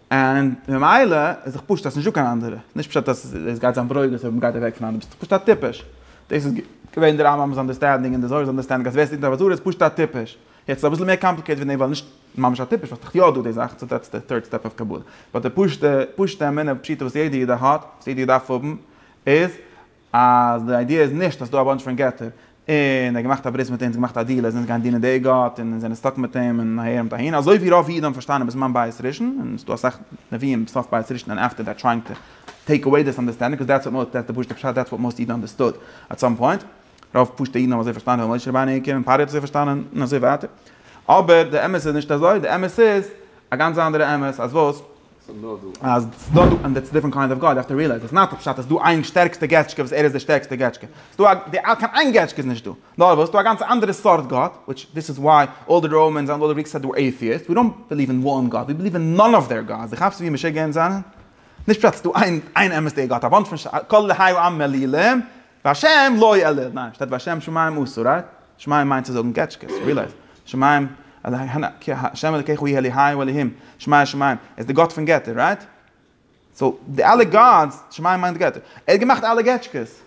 און ממילא איז דאך פשט אז ס'נישט דא קיין אנדערע, ס'איז נישט פשט אז עס גייט זיין ברוגז אויב מ'גייט אוועק פון אנדערע, ביסט פשוט א טיפש. דאס איז געווען די רמב ם'ס אנדערסטענדינג און די זוהר'ס אנדערסטענדינג אז ווער ס'טוט נישט עבודה זרה איז פשוט א טיפש. יעצט איז אביסל מער קאמפליקעיטעד ווי דעם ווייל נישט ממש א טיפש ווייל ס'דאך יא דא די זאך, סאו דעטס די טירד סטעפ אוו קבלה. באט די פשוטע פשוטע אמונה פשוטה וואס יעדע איד האט, וואס יעדע איד דארף האבן, איז אז די איידיע איז נישט אז ס'דא א באנטש פון געטער, און ער האט געמאכט א ברית מיט אונז, געמאכט א דיעל אז אונז גייען דינען די גאט, און אונז זענען סטאק מיט אים, און אהער און אהין, אזוי ווי רוב אידן האבן פארשטאנען בזמן בית ראשון, און ס'דא אסאך נביאים בסוף בית ראשון און עפטער דעט טרייאינג טו טעיק אוועי דיס אנדערסטענדינג, קאז דעטס וואט דעטס די פשוטע פשט דעטס וואט מאסט אידן אנדערסטוד עט סאם פוינט, רוב פשוטע אידן האבן אזוי פארשטאנען ווי משה רבינו העיקר, און פרעה האט אזוי פארשטאנען, און אזוי ווייטער, אבער די אמת איז נישט אזוי, די אמת איז א גאנץ אנדערע אמת, אז וואס? אז ס'דא דא און דעטס דיפרענט קיינד אוו גאד יו האוו טו רילייז איטס נאט פשט אז ס'דא איין שטערקסטע געטשקע וואס ער איז די שטערקסטע געטשקע ס'דא א קיין איין געטשקע איז נישט דא נאר וואס ס'דא א גאנצע אנדערע סארט גאט וויטש דיס איז וואי אלל די ראמענס אנד אלל די גריקס סעד ווער עיטיאיסט ווי דאנט ביליוו אין וואן גאט ווי ביליוו אין נאן אוו דעיר גאדס דו כאפסט ווי משוגע אונז זענען? נישט פשט אז ס'דא איין אמת'דיגע גאט א באנטש פון כל אלה היו עם מלילים והשם לא יעלה, ניין, שטייט והשם שמים עשה, רייט? שמים מיינט צו זאגן קעטשקעס, רילייז, שמים, כי ה' אלקיך הוא יהיה אלהי ואלהים, שמיה שמים, ער איז די גאט פון געטער, רייט? סאו, די אלע גאדס, שמים מיינט געטער, ער האט געמאכט אלע געטשקעס.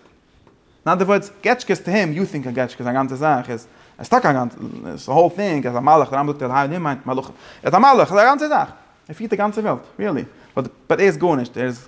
אין אנדער ווארדס, געטשקעס טו הים, יו טינק א געטשקע איז א גאנצע זאך, איז איז טאקע א גאנצע, איז די האול טינג אז א מלאך, די רמב ם זאגט אלהי אלהים מיינט מלאכים, ער איז א מלאך, איז א גאנצע זאך, ער פירט די גאנצע וועלט, ריעלי, באט ער איז גארנישט, ער איז.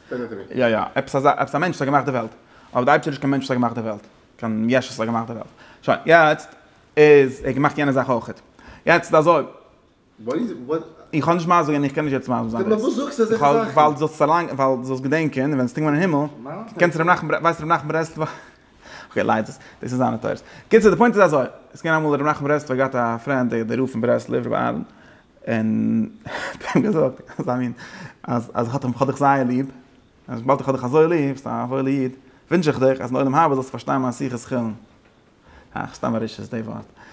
יא יא, עפעס א זאך, עפעס א מענטש האט געמאכט די וועלט, אבער די אייבערשטער איז נישט קיין מענטש וואס האט געמאכט די וועלט, קיין יש וואס האט געמאכט די וועלט, שוין, יעצט איז, ער האט געמאכט יענע זאך אויכעט, יעצט אזוי, איך האב נישט מה זאגען, איך קען נישט יעצט מה זאגען, ווייל דו זאלסט געדענקען, ווען עס קומט ווען אין הימל, קענסט ר' נחמן, ווייסט ר' נחמן ברסלב. אקעי ליידט עס, דאס איז זיינע תורות. קיצור די פוינט איז אזוי, עס געווען אמאל רבי נחום ברסלב האט געהאט א פרענד די די רב פון ברסלב רבי אהרן, און האט אים געזאגט אזא מין אז אז האט אים כ'האב דיך זייער ליב, אז וויבאלד איך האב דיך אזוי ליב, ביסט א וואוילע איד, ווינטש איך דיך אז אין עולם הבא זאלסטו פארשטיין מיין שיחת חולין. אה, סתם א רשעות די ווארט.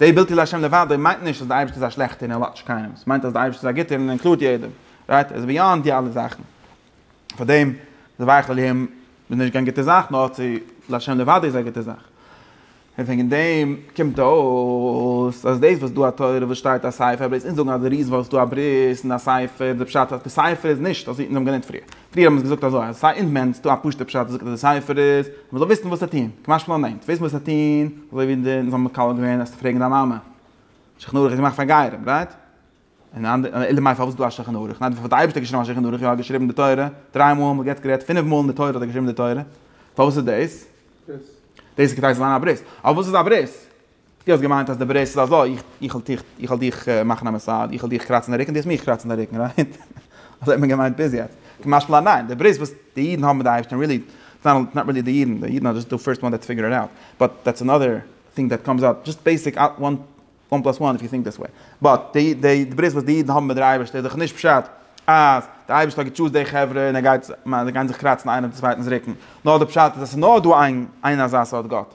די בלתי לה' לבדו מיינט נישט אז די אייבערשטער איז א שלעכטער און ער לאטשט קיינעם, ס'מיינט אז די אייבערשטער איז א גוטער און ער אינקלוד יעדעם, רייט? ער איז ביאנד די אלע זאכן. פארדעם די ויחל איהם איז נישט קיין גוטע זאך, נאר צו לה' לבדו איז א גוטע זאך. און וועגן דעם קומט אויס אז דאס וואס דא א תורה וואס שטייט א ספר, בלעז אונז זאגן אז די ריזן וואס דא א ברית און א ספר, די פשט אז די ספר איז נישט אזוי ווי אונז האבן געלערנט פריער. פריער האבן זיי געזאגט אזוי אז עס איז א אינדמענט, עס איז דא א פשוט'ע פשט וואס זאגט אז די ספר איז אז מען זאל וויסן וואס צו טון, כמשמע לענ ד, וועסט וויסן וואס צו טון, אזוי ווי די זאל מקלל געווען וועסטו פרעגן דיין מאמע, שולחן ערוך איז געמאכט פאר גרים, רייט? און אנ ד, אלא מאי פארוואס איז דא א שולחן ערוך? ניין, האט די אייבערשטער געשריבן א שולחן ערוך? יא, האט געשריבן די תורה דריי מאל, מ'האט יעצט גערעדט פינף מאל אין די תורה האט ער געשריבן די תורה, פארוואס איז דאס? דאס איז כדי ס'זאל זיין א ברית, אבער וואס איז א ברית? דו האסט געמיינט אז די ברית איז אזוי, איך וועל דיך מאכן א מעסאדזש, איך וועל דיך קראצן די רוקן, דו וועסט מיך קראצן די רוקן, רייט? אזוי האט מען געמיינט ביז יעצט. כמשל א ניין, די ברית וואס די אידן האבן מיט די אייבערשטען, ריעלי, איטס נאט נאט ריעלי די אידן, די אידן אר דזשאסט די פירסט וואן דעטס פיגור איט אוט, באט דעטס אנאדער טינג דעט קאמס אפ, דזשאסט בעיסיק וואן פלאס וואן איף יו טינק דעס וועי, באט די די ברית וואס די אידן האבן מיט דער אייבערשטער איז דאך נישט פשט אז די אייבערשטער האט געטשוזט די חברה און ער גייט, זיי גייען זיך קראצן איינער דעם צווייטנס רוקן, נאר די פשט איז אז ס'איז נאר דא איין איין אזא סארט גאט.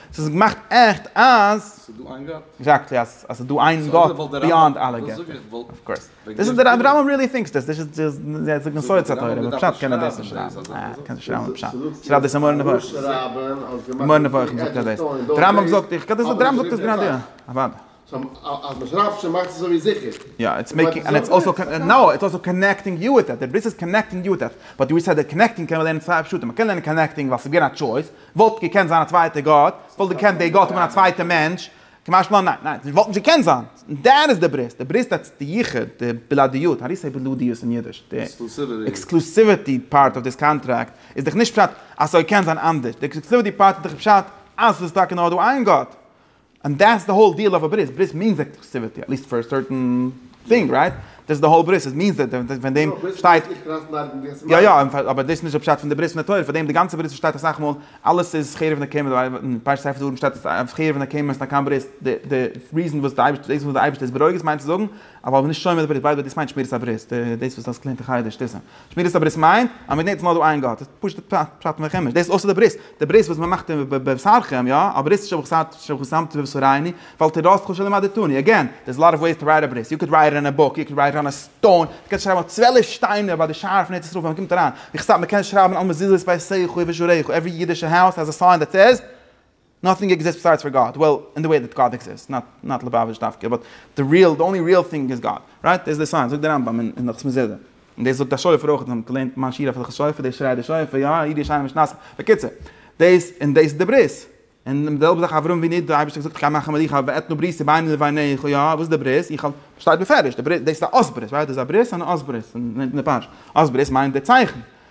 ס'איז געמאכט עכט אז. ס'איז דא איין גאט. עקזעקטלי, אז ס'איז דא איין גאט ביאנד אלע געטער. אויף קאורס. דאס איז דער רמב ם ריעלי טינקס דאס. דאס איז די מסורת התורה. בפשט קען ער דאס נישט שרייבן. אה, קען נישט שרייבן בפשט. שרייבט דאס אין מורה נבוכים. מורה נבוכים זאגט ער דאס. דער רמב ם זאגט, איך קען דאס, דער רמב ם זאגט עס גראדע יא. אוודאי. סא אז מען שרייבט שוין מאכט עס אזוי ווי זיכער. יא איטס מעיקינג ענד איטס אלסא קאנ נאו איטס אלסא קאנעקטינג יו וויט איט דער בריסט איז קאנעקטינג יו וויט איט באט יו סעד דעט קאנעקטינג קען מען לערנען צוויי פשטים מען קען לערנען קאנעקטינג ווייל ס'איז געווען א טשויס וואלט געקענט זיין א צווייטע גאט וואלט געקענט דער גאט האבן א צווייטע מענטש כמשמעו ניין ניין ס'וואלט נישט געקענט זיין דעט איז דער בריסט דער בריסט איטס די יחוד די בלעדיות האו דו סעי בלעדיות אין אידיש די עקסקלוסיוויטי פארט אוו דיס קאנטראקט איז דאך נישט פשט אז ס'זאל קענען זיין אנדערש די עקסקלוסיוויטי פארט איז דאך פשט אז ס'איז טאקע נאר דא איין גאט און דעטס די האול דיעל אויף א ברית, ברית מיענס עקסקלוסיוויטי, עט ליעסט פאר א סערטען טינג, רייט? דעטס די האול ברית, עס מיענס דעט, און פון דעם שטייט, יא יא, אבער דאס איז נישט די פשט פון די ברית פון די תורה, פאר דעם די גאנצע ברית וואס שטייט אסאך מאל, אלעס איז חרב נקמה, די ווייל אין פרשת ספר דברים שטייט אז חרב נקמה איז נישט קיין ברית, די די ריזען וואס די אייבערשטער, דאס וואס די אייבערשטער איז ברוגז מיינט צו זאגן אז ווייל מ'איז נישט שומר די ברית, ביי די וועי דאס מיינט שמירת הברית, דאס וואס דו האסט געלערנט אין חדר שטיסל. שמירת הברית מיינט אז מען געדענקט אז מען האט דא איין גאט, פשוט'ע פשט פשט מלחמה, דאס איז אויסער די ברית, די ברית וואס מען מאכט אין בבשרכם, יא, א ברית ששמתי בבשריני, ואל תדרוס כל שלא מדדתני, אגעין, דער איז א לאט אוו וועיס טו רייט א ברית, יו קען רייט איט אן א בוק, יו קען רייט איט אן א סטאון, מען קען שרייבן אויף צוועלף שטיינער ביי די שער פון ארץ ישראל ווען מען קומט אריין, וכסדר מען קען שרייבן על מזוזות ביי שריך ובשעריך, עווערי אידישע האוז העז א סיין דעט סעיז. נאטינג עקזיסט ביסיידס פאר גאד, וועל אין די וועי דעט גאד עקזיסט, נאט נאט ליבאוויטש דווקא, באט די ריעל, די אנלי ריעל טינג איז גאד, רייט? דאס איז די סיינס, זאגט די רמב ם אין הלכות מזידה, און דאס זאגט א שופר אויך, אתם האט געליינט מיין שיעור אויף הלכות שופר, דאס שרייט די שופר, יא, איד ישנים איש נעשה, בקיצור, דאס און דאס איז די ברית, און די זעלבע זאך אברהם אבינו, די אייבערשטער האט געזאגט איך גיי מאכן מלוכה ואתנה בריתי ביני לביניך, יא, וואס איז די ברית? איך האב, שטייט בפירוש, די ברית, דאס איז א אות ברית, רייט? דאס איז א ברית און א אות ברית, און אין די פרשה, אות ברית מיינט די צייכן,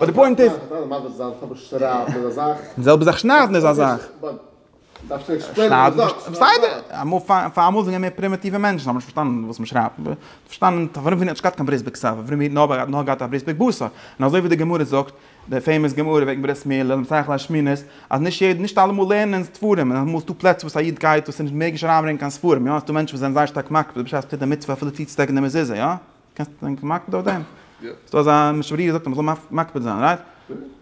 באט די פוינט איז. די זעלבע זאך שניידן איז א זאך. בסדר, אמאל פארמאל זענען מיר פרימיטיווע מענטשן האבן נישט פארשטאנען וואס מ'שרייבט, פארשטאנען פארוואס מ'האט נישט געהאט קיין ברית בקצבה, פארוואס מ'האט האט נאר געהאט א ברית בגבסה, און אזוי ווי די גמרא זאגט, די פעימאס גמרא וועגן ברית מילה, למה צריך להשמינות, אז נישט יעדער נישט אלעמאל לערנען ספרים, און אמאל איז דא פלעצער וואס א איד גייט וואס איז נישט מעגליך אריינברענגען קיין ספרים, יא, ס'דא מענטשן וואס זענען זייער שטארק מקפיד בשעת פרידה מצוה אפילו צוצודעקן די מזוזה, יא. קענסט ענק מקפיד אויף דעם? ס'איז דא אזא משנה ברורה זאגט אז מ'זאל מקפיד זיין, רייט?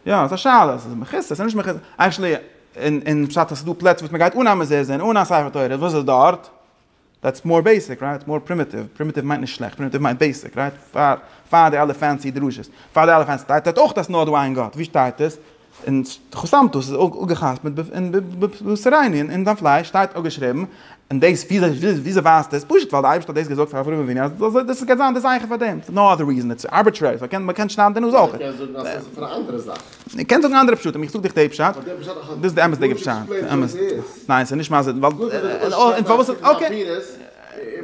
יא, ס'איז א שאלה, ס'איז מכוסה, ס'איז נישט מכוסה, עקשעלי אין פשט אז ס'איז דא פלעצער וואס מ'גייט אן א מזוזה און אן א ספר תורה, וואס איז דארט? דעטס מאר בעיסיק, רייט? מאר פרימיטיוו, פרימיטיוו מיינט נישט שלעכט, פרימיטיוו מיינט בעיסיק, רייט? פאר די אלע פענסי דרשות, פאר די אלע פענסי, שטייט דארט אויך אז ס'איז נאר דא איין גאט, ווי שטייט עס? און חתמתו, ס'איז אפגע'חתמ'ט אין בשרייני, און אין זיין פלייש שטייט אפגעשריבן, און דאס, וויאזוי ווייסט דאס? פשוט ווייל די אייבערשטער האט דאס געזאגט פאר אברהם אבינו, אז דאס איז גייט זיין די זכר פאר דעם, נאו אדער ריזען, איטס ארביטרערי, סאו מען קען שניידן די נאז אויך. מען קען זאגן אז ס'איז פאר א אנדערע זאך. מען קען זאגן אנדערע פשטים, איך זאג דיך די פשט, דאס איז די אמת'דיגע פשט, ניין ס'איז נישט מסביר, ווייל, און פארוואס, אקעי.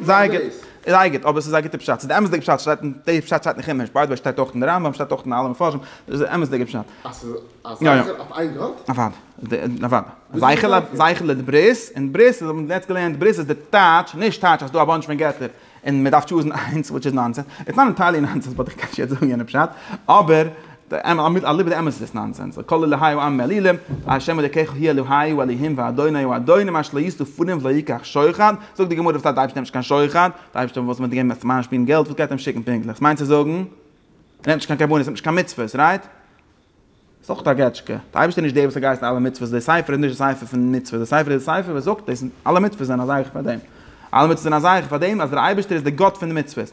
זייער גוט, זייער גוט, אבער עס איז א גוטע פשט, ס'איז די אמת'דיגע פשט, שטייט אין, די פשט שטייט אין חומש, ביי די וועי שטייט אויך אין רמב ם, שטייט אויך אין אלע מפרשים, דאס איז די אמת'דיגע פשט. אז ס'איז א זכר אויף איין גאט? אוואד, אוואד, זייכעלע, זייכעלע איז ברית, און ברית, אונז האבן יעצט געלערנט, ברית איז די טייטש, נישט טייטש אז ס'דא א באנטש פון געטער, און מ'דארף טשוזן איינס, וויטש איז נאנסענס, איטס נאט ענטיירלי נאנסענס, באט איך קען נישט יעצט זאגן יענע פשט, אבער. עמוד אליבא דאמת איז עס נאנסענס, על כל אלהי העם מעלילים, ה' אלוקיך הוא אלהי הוא אלהים ואדוני הוא אדוני מה שלא יסתו פנים ולא יקח שוחד, זאגט די גמרא וואס טייטש די אייבערשטער נעמט נישט קיין שוחד? די אייבערשטער וואס מ'האט געגעבן עס צו מאנשפילן געלט וואס גייט ער אים שיקן פונקטליך? ס'מיינט צו זאגן ער נעמט נישט קיין קרבנות ער נעמט נישט קיין מצוות רייט? איז אויך א געטשקע. די אייבערשטער איז נישט דער וואס האט געהייסן אלע מצוות, די ספר איז נישט די ספר פון מצוות, די ספר איז די ספר וואס זאגט עס, אלע מצוות זענען א זייכער פאר דעם, אלע מצוות זענען א זייכער פאר דעם אז דער אייבערשטער איז די גאט פון די מצוות,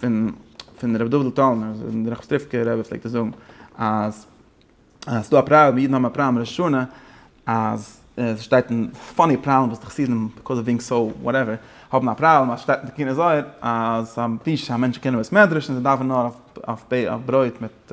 פון פון רבי דוד טאלנער דער ראחמסטריווקער רבי פלעגט עס זאגן אז אז ס'דא א פראבלעם אידן האבן א פראבלעם ראש השנה אז עס שטייט אין פאני פראבלעם וואס די חסידים ביקאוז אוו בינג סאו וואטעווער האבן א פראבלעם אז שטייט אין די קינות זוהר אז א טיש א מענטש קען אין בית מדרש און זיי דארפן נאר אויף אויף ברויט מיט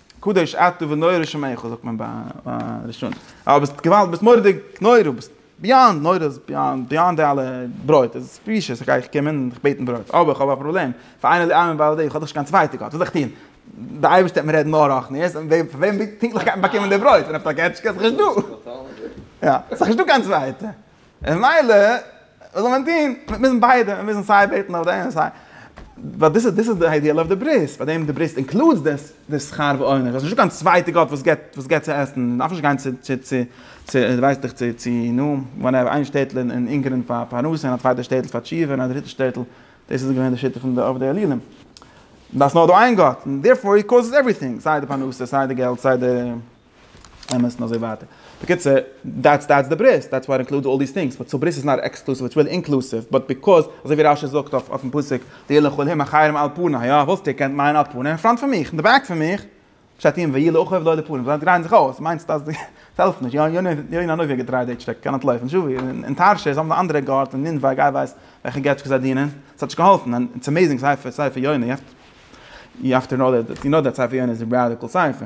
קדוש אתה ונורא שמך זאגט מען ביי ראשון א ביסט געוואלד ביסט מורדיג נורא ביסט ביאנד נורא איז ביאנד ביאנד די אלע ברויט איז ספישעס איך גיי איך קום און איך בעט און ברויט אבער איך האב א פראבלעם פאר איינער די עמים בעל דעי איך האב דאך נישט קיין צווייטע גאט וואס זאל איך טון די אייבערשטע וועט מיר רעדן נאר רחניות און וועם פון וועם פונקטליך גייט מען באקומען די ברויט פון א פאטאקעטשקע איז דאך נישטא יא איז דאך נישטא קיין צווייטע. און מילא, וואס זאל מען טון? מיר מוזן ביידע, מיר מוזן סיי בעטן אויף דעם, סיי. ווייל דאס איז דאס איז די איידיעל אויף די ברית, ביי דעם די ברית אינקלודס די די שכר ועונש, דאס איז נישטא קיין צווייטע גאט וואס געבט וואס געבט צו עסן, מען דארף נישט גיין צו צו צו צו ווייס דיך צו צו נו וואטעווער, איין שטעטל אין אין אונגערין פאר פרנסה און א צווייטע שטעטל פאר תשובה און א דריטע שטעטל, דאס איז געווען די שיטה פון די אב די עליונים. דאס נאר דא איין גאט, און דערפאר הי קאוזעס עווריטינג, סיי די פרנסה, סיי די געלט, סיי די. אמת און אזוי ווייטער. בקיצור, דעטס דעטס די ברית, דעטס וואט אינקלודס אלל דיס טינגס, באט סאו ברית איז נאט עקסקלוסיוו, איטס ריעלי אינקלוסיוו, באט ביקאוז, אזוי ווי רשי זאגט אויף אויפן פסוק, ויהי לכל העם אחרים על פניו, יא, וואלסטו געקענט מיינען על פניו אין פראנט פון מיך, אין די בעק פון מיך, פשט אין ויהי לאחיו לא לפנים, זיי דרייען זיך אויס, מיינסט אז די, עס העלפט נישט, יא יונה האט יא נארווי געדרייט די טשעק, קען נאט לויפן, זשאוי אין תרשיס האבן די אנדערע גאט און נינווה גיי ווייס וועלכע געטשקעס זיי דינען, עס האט נישט געהאלפן, און איטס עמעזינג ספר ספר יונה, יו העוו טו נאו דעט, יו נאו דעט ספר יונה איז א ראדיקעל ספר.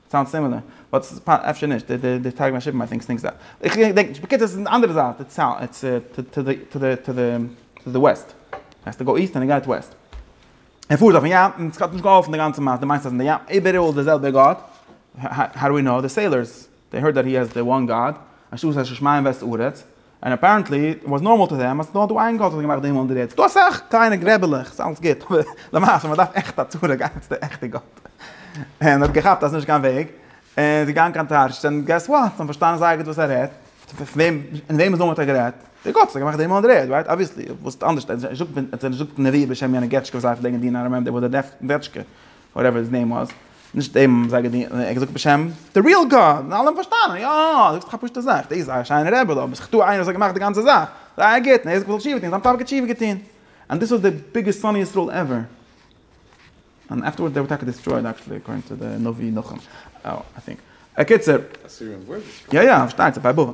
סאונדס סימילער, באט אפשר נישט, די טייג פון שיפן איי טינק סטינקס דארט. איך געדענק נישט. בקיצור עס איז די אנדערע זייט, איטס טו די וועסט. האסט טו גאו איסט און געט וועסט. ער פארט אויפן ים און ס'האט נישט געהאלפן די גאנצע מעשה, דו מיינסט אז אין די ים איבעראל די זעלבע גאט? האו דו ווי נאו? די סעילארס, דעי הערד דעט הי העז די וואן גאד, אנשטאט עס איז שמיים וועסט ארץ, און אפערענטלי איט וואס נארמאל טו דעם אז ס'איז נאר דא איין גאט וואס האט געמאכט די הימל און די ערד. ס'איז דא אסאך קליינע גרעבעלעך, ס'איז אלעס גוט, אבער למעשה מ'דארף עכט א צורה גיין צו די עכטע גאט. און האט געכאפט אז ס'איז נישט קיין וועג, און איז געגאנגען קיין טארשט, און געס וואט? זיי האבן פארשטאנען זייער גוט וואס ער רעדט, פון וועם, אין וועמענס נאמען האט ער גערעדט? די גאט וואס האט געמאכט די הימל און די ערד, רייט? אבוויעסלי, וואס אנדערש, ער האט נישט געזאגט נביא בשם יענע געטשקע וואס דארפן דענקען די נארמען, די וואס דערפט דעטשקע, וואטעווער היז נעים וואס, נישט דעם האבן זיי געדינט, ער האט געזאגט בשם די ריעל גאד, און אלע האבן פארשטאנען, יא, זאגסט דאך א פשוטע זאך, דאס איז א שיינע רעבעלע, אבער ס'איז דא איינער וואס האט געמאכט די גאנצע זאך, זייער גוט, און ער האט זיך געזאלט תשובה טון, זיין טאטע האט תשובה געטון, און דאס איז די ביגעסט שונא ישראל עווער, און עפטערווארדס דער וואלט טאקע דיסטרויעד עקטשעלי אקארדינג טו די נביא נחום, איי טינק, אקיצער. יא יא, פארשטייט זיך ביי בבל.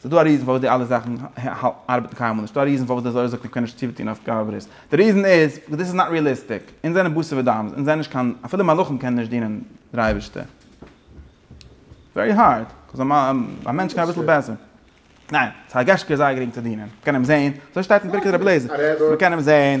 ס'איז דא א ריזן פארוואס די אלע זאכן ארבעטן קיינמאל נישט, ס'איז דא א ריזן פארוואס די זוהר זאגט איך קען נישט צוטון אויף גאוה ברית, די ריזן איז, וויל דיס איז נאט ריעליסטיק, אונז זענען בשר ודם, אונז זענען נישט קיין, אפילו מלאכים קענען נישט דינען דער אייבערשטער, ווערי הארד, קאוז א מענטש קען אביסל בעסער, ניין, ס'הרגש כ איז זייער גרינג צו דינען, מ'קען אים זעהן, אזוי שטייט אין ברכת רבי אליעזר, מ'קען אים זעהן.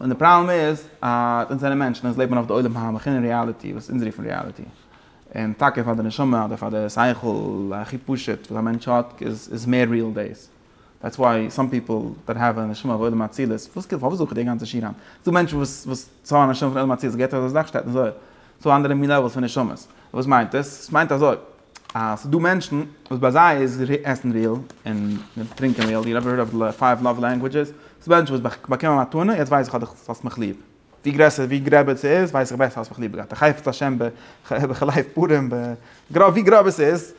און די פראבלעם איז אז אונז זענען מענטשן, אונז לעבן אויף די עולם העמך און ריאליטי וואס אונז רופן ריאליטי. און טאקע פאר די נשמה אדער פאר די שכל הכי פשוט וואס א מענטש האט איז מער ריעל דאס. דעטס וואי סאם פיפל דעט האוו א נשמה פון עולם האצילות, וואס כאילו פארוואס זוך איך די גאנצע שינאן? ס'איז דא מענטשן וואס וואס ס'האבן א נשמה פון עולם האצילות, געהערט אזא זאך שטייט אין זוהר. ס'דא אנדערע מין לעוועלס פון נשמות. וואס מיינט עס? ס'מיינט אזוי. אז ס'דא מענטשן וואס ביי זיי איז עסן ריעל און טרינקען ריעל, יו עווער הערד אוו די פייוו לאוו לענגווידזשעס? ס'דא מענטשן וואס ביי באקומען א מתנה, יעצט ווייס איך אז דו האסט מיך ליב, ווי גרעסער ווי גרעבער ס'איז ווייס איך בעסער האסט מיך ליב געהאט, א חפץ השם בחלב פורים, ווי גראב עס איז,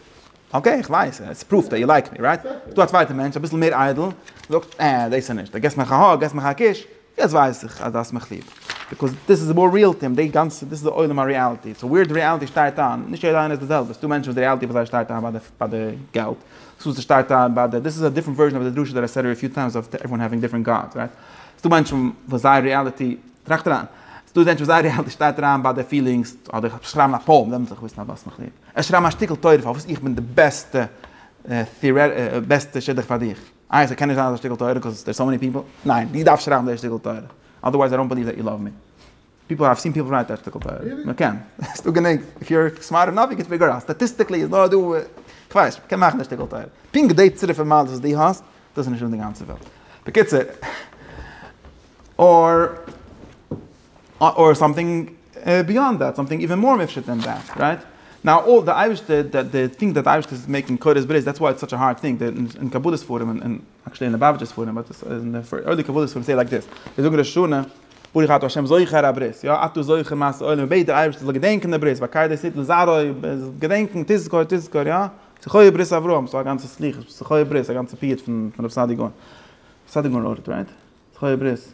אקעי איך ווייס, עס פראווט דעט יו לייק מי, רייט? ס'דא א צווייטע מענטש אביסל מער איידל, זאגט, אה דאס איז נישט, דו געסט מיך א האג, געסט מיך א קיש, יעצט ווייס איך אז דו האסט מיך ליב, ביקאוז דיס איז מאר ריעל טים, די גאנצע דיס איז די עולם הריעליטי, סאו ווער די ריעליטי שטייט איין, נישט יעדער איינער איז די זעלבע, ס'דא מענטשן וואס די ריעליטי ביי זיי שטייט איין ביי די געלט, ס'דא וואס ס'שטייט איין ביי די, דיס איז א דיפרענט ווערזשען אוו די דרשה דעט איי סעד אפיו טיימס אוו עוועריוואן העווינג דיפרענט גאדס רייט, ס'דא מענטשן וואס זייער ריעליטי, טראכט אריין, ס'דא מענטשן וואס זייער ריעליטי שטייט איין ביי די פילינגס, אדער כ'האב שרייבן א פאום, דעמאלטס וועל איך וויסן אז דו האסט מיך ליב, ער שרייבן א שטיקל תורה פארוואס איך בין די בעסטע בעסטע שידוך פאר דיך. איי ס'קען נישט זיין אזא שטיקל תורה קאוז דער סאו מעני פיפל? ניין, דו דארפסט שרייבן דער שטיקל תורה, אדערווייז איי דאנט בעליוו דעט יו לאוו מי. פיפל האוו סין פיפל רייט דער שטיקל תורה. מען קען. ס'איז דא גענוג. איף יו אר סמארט אינאוו יו קען פיגור אוט. סטאטיסטיקלי איז נאר דא, כ'ווייס נישט, מ'קען מאכן דער שטיקל תורה. פונקט די צירוף מעלות וואס דו האסט, דאס איז נישט אן די גאנצע וועלט. בקיצור. אור. אר סאמטינג ביאנד דעט, סאמטינג איווען מאר מופשט דען דעט, רייט? נאו אל די אייבערשטער, די טינק דעט די אייבערשטער איז מעיקינג קורות ברית, דעטס וואי איטס סאטש א הארד טינק, אין קבלה ספרים און אקשעלי אין ליבאוויטשע ספרים, באט אין די ארלי קבלה ספרים סעי לייק דעס, זיי זאגן ראש השנה, ברוך אתה ה' זוכר הברית, יא, אתה זוכר מעשי עולם, מען בעט דער אייבערשטער זאל געדענקען די ברית, בקי דעת ניתנה לזרעו, געדענקען, תזכור תזכור, יא, זכור ברית אברהם, ס'איז א גאנצע סליחות, זכור ברית, א גאנצע פיוט פון רבי סעדי' גאון, סעדי' גאון ארט, רייט? זכור ברית.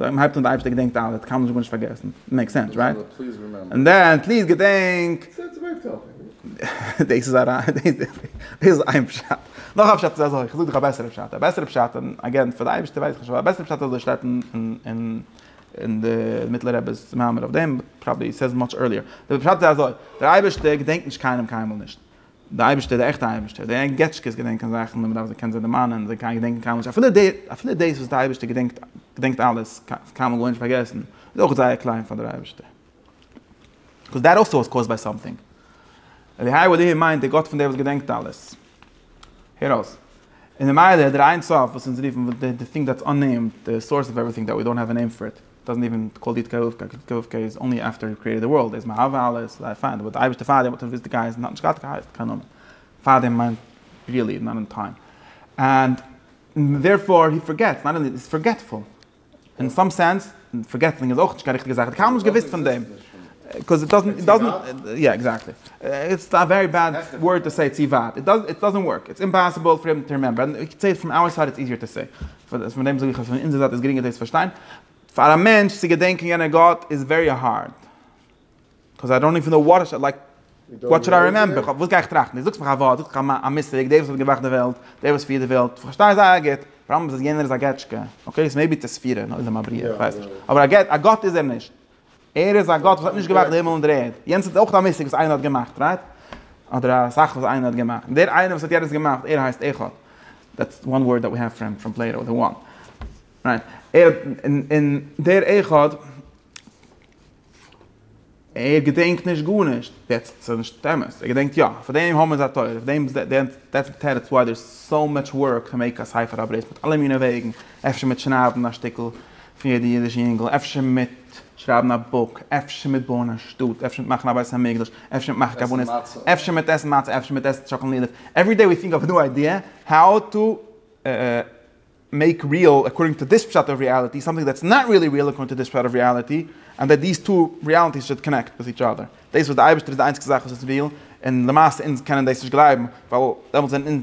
אויב מען הייבט אן די אייבערשטער געדענקט אלעס קאן מען נישט גארנישט פארגעסן, מעיק סענס רייט? און דען פליז געדענק. דאס איז איין פשט, נאך א פשט איז אזוי, כ'זאג דיך א בעסערע פשט, א בעסערע פשט און אגעין פאר די אייבערשטער ווייס איך נישט אבער א בעסערע פשט איז אזוי שטייט אין די מיטלער רעבע'ס מאמר אויף דעם, פראבעבלי סעיז מאטש ערליער, די פשט איז אזוי, דער אייבערשטער געדענקט נישט קיינעם קיינמאל נישט, דער אייבערשטער, דער עכטער אייבערשטער, די ענגעטשקעס געדענקען זאכן און מען דארף זיי קען זיי דערמאנען, זיי געדענקן קיינמאל נישט, אפילו די, אפילו דאס וואס דער אייבערשטער געדענקט, געדענקט אלעס, קיינמאל גארנישט פארגעסן, איז אויך זייער קליין פאר דער אייבערשטער. קאוז דעט אלסא איז קאוזד ביי סאמטינג. אליהיי וואט דו מיינט דער גאט פון דער וואס געדענקט אלעס. הער אויס. און ממילא דער איין סוף וואס אונז רופן, די טינג דעטס אננעימד, די סאורס אוו עוועריטינג דעט ווי דאונט העוו ען נעים פאר איט. דאזענט איווען קאל די התקרבותא קאל די התקרבותא איז אנלי עפטער יו קריעטעד די ווארלד איז מען אהבה אלעס איז זייער פיין אבער די אייבערשטער פארדעם האט ער געוויסט די גייסט און האט נישט געהאט געהייסט קיין נאמען פארדעם מיין ריעלי נאט און טיים ענד דערפאר הי פארגעטס נאט אנלי איז פארגעטפול און סאם סענס און פארגעטינג איז אויך נישט קיין ריכטיגע זאך ער האט קיינמאל נישט געוויסט פון דעם קאוז איט דאזענט איט דאזענט יא עקזעקטלי איטס א ווערי בעד ווארד טו סעי צו ווייט איט דאזענט ווארק איטס אימפאסיבל פאר אים טו רימעמבער און איך צו סאם אוטסייד איטס איזיער טו סעי פון דעם זאג איך אז פון אונזער זייט איז גרינגער דאס צו פארשטיין. פאר א מענטש צו געדענקען יענער גאט איז ווערי הארד. קאוז איי דאנט איוון נאו וואט איי לייק וואט שוד איי רימעמבער. וואס גיי איך טראכטן? דו זאגסט מיך א ווארט, זאגט זיך א מושג, דער וואס האט געמאכט די וועלט, דער וואס פירט די וועלט, איך פארשטיי זייער גוט, פראבלעם איז אז יענער איז א געטשקע. אקעי, סאו מעיבי איטס א ספירה, נאר איז ער א בריאה, איך ווייס נישט. אבער א גאט איז ער נישט. ער איז א גאט וואס האט נישט געמאכט די הימל און די ערד. יענץ איז אויך א מושג וואס איינער האט געמאכט, רייט? אדער א זאך וואס איינער האט געמאכט. און דער איינער וואס האט יענץ געמאכט, ער הייסט אחד. דעטס וואן ווארד דעט ווי העוו פרעם פרעם פלעיטא, די וואן. רייט? ער האט, און דער אחד, ער געדענקט נישט גארנישט. דעטס ס'איז נישט אמת. ער געדענקט יא. פאר דעם האבן מיר זיי תורה. פאר דעם דעטס די תירוץ וואי דער איז סאו מאטש ווארק טו מעיק א ספר אוט אוו דיס מיט אלע מיני וועגן. אפשר מיט שניידן א שטיקל פון יעדע אידישע יונגל, אפשר מיט שרייבן א בוק, אפשר מיט בויען א שטאט, אפשר מיט מאכן א בית המקדש, אפשר מיט מאכן קארבאנעס, אפשר מיט עסן מצה, אפשר מיט עסן טשאקאלאד, עווערי דעי ווי טינק אוו א ניו איידיע האו טו מעיק ריעל אקארדינג טו דיס פשט אוו ריעליטי, סאמטינג דעטס נאט ריעלי ריעל אקארדינג טו דיס פשט אוו ריעליטי, ענד דעט דיס טו ריעליטיס שוד קאנעקט וויט איטש אדער. דאס וואס דער אייבערשטער איז די איינציגסטע זאך וואס איז ריעל, און למעשה אונז קענען דאס נישט גלייבן, ווייל דעמאלטס זענען אונז.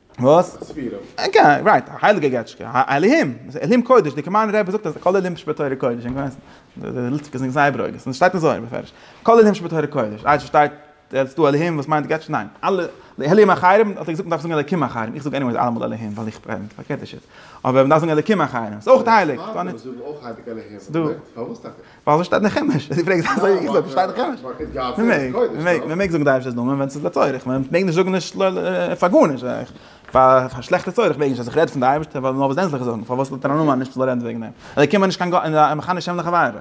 וואס? ספירה. אקעי, רייט, א הייליגע געטשקע, א אלהים, אלהים קודש, די קאמארנער רבי זאגט אז כל אלהים שבתורה קודש, און כ'ווייס נישט, די ליטוואק איז זייער ברוגז, און ס'שטייט אזוי מפורש, כל אלהים שבתורה קודש, אזש ס'שטייט ער האט דא אלהים וואס מיינט געטשקע, ניין, אלע אלהים אחרים, האט ער געזאגט מ'דארף זאגן אלקים אחרים, איך זאג עניוועיס אלעמאל אלהים ווייל איך בין פארקערט די שיטה, אבער מ'דארף זאגן אלקים אחרים, ס'איז אויך הייליג, ס'דא נישט. ווייל עס שטייט אין חומש, דו פרעגסט אזוי ווי געזאגט עס שטייט אין חומש, מען מעג, מען מעג, מען מעג זאגן די ערשטע נאמען ווען ס'איז לצורך, מען מעג נישט זאגן נישט פאר גארנישט, פאר שלעכטע צורך מעג נישט, אז איך רעד פון די אייבערשטע ווייל נאר וואס דען זאל איך זאגן, פארוואס לאט ער א נאמען נישט זאל ער רעדן וועגן אים, אלוקים איז נישט קיין גא א מכנה שם לחברו,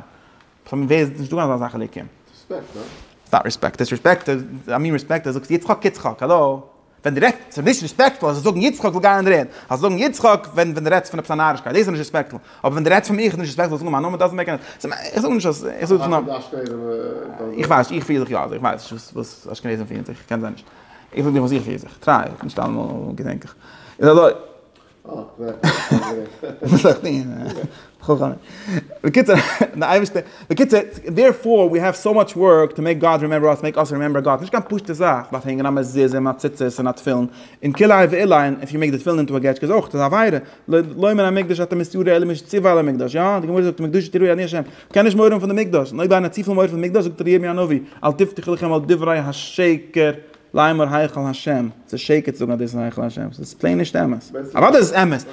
פון ווער איז נישטא קיין אזא זאך אלוקים. ס'איז נישט ריספעקט, ס'איז ריספעקט, דיסריספעקט, א מין ריספעקט, דו זאגסט יצחק יצחק, האלא. ווען דו רעדסט ס'איז נישט ריספעקטפול אז זיי זאגן יצחק וויל גיין אין רעד, זאלסט זאגן יצחק ווען ווען דו רעדסט פון עפעס א נארישקייט דאס איז נישט ריספעקטפול, אבער ווען דו רעדסט פון מיך איז נישט ריספעקטפול צו זאגן מיין נאמען דאזענט מעיק עני סענס, איך זאג נישט אז איך זאג דיך נאר, איך ווייס נישט איך פיר זיך יא אזוי, איך ווייס נישט וואס וואס אשכנעזים פירן זיך, קען זיין נישט, איך זאג דיך וואס איך פיר זיך, טריי, נישט אלעמאל געדענק איך, איז אזוי. בקיצור, די אייבערשטער, בקיצור, דערפאר ווי העוו סאו מאטש ווארק טו מעיק גאד רימעמבער אס, מעיק אס רימעמבער גאד, ס'נישט קיין פשוטע זאך, מען דארף הענגען א מזוזה און א ציצית און א תפילין, און כלאי ועילאי, און אויב מ'מעקט די תפילין אונטער באגעטשקע איז אויך, ס'איז עבירה, לא יאמן המקדש אתה מסתיר אלא מי שציוה על המקדש, יא, די גמרא זאגט מקדשי תראי אני השם, מ'קען נישט מורא האבן פון די מקדש, און אויב איינער האט צופיל מורא פון מקדש זאגט דער ירמי' הנביא אל תבטחו לכם על דברי השקר לאמר היכל השם, ס'איז שקר צו זאגן אז דאס איז היכל השם, ס'איז פלעין נישט אמת. אוודאי איז עס אמת,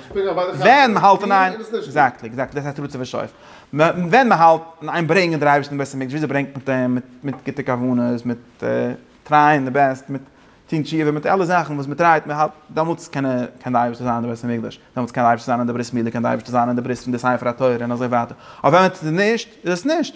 ווען מען האלט אין איין, עקזעקטלי, עקזעקטלי, דאס הייסט רצוף ושואף. ווען מען האלט אין איין ברענגען דער אייבערשטער אין בית המקדש, וויאזוי ברענגט מען אים, מיט מיט גוטע כוונות, מיט טרייען די בעסט, מיט טון תשובה, מיט אלע זאכן וואס מען טרייט, מען האלט, דעמאלטס קען ער, קען דער אייבערשטער זיין אין בית המקדש, דעמאלטס קען דער אייבערשטער זיין אין די ברית מילה, קען דער אייבערשטער זיין אין די ברית פון די ספר התורה און אזוי ווייטער. אבער ווען מען טוט עס נישט, איז עס נישט.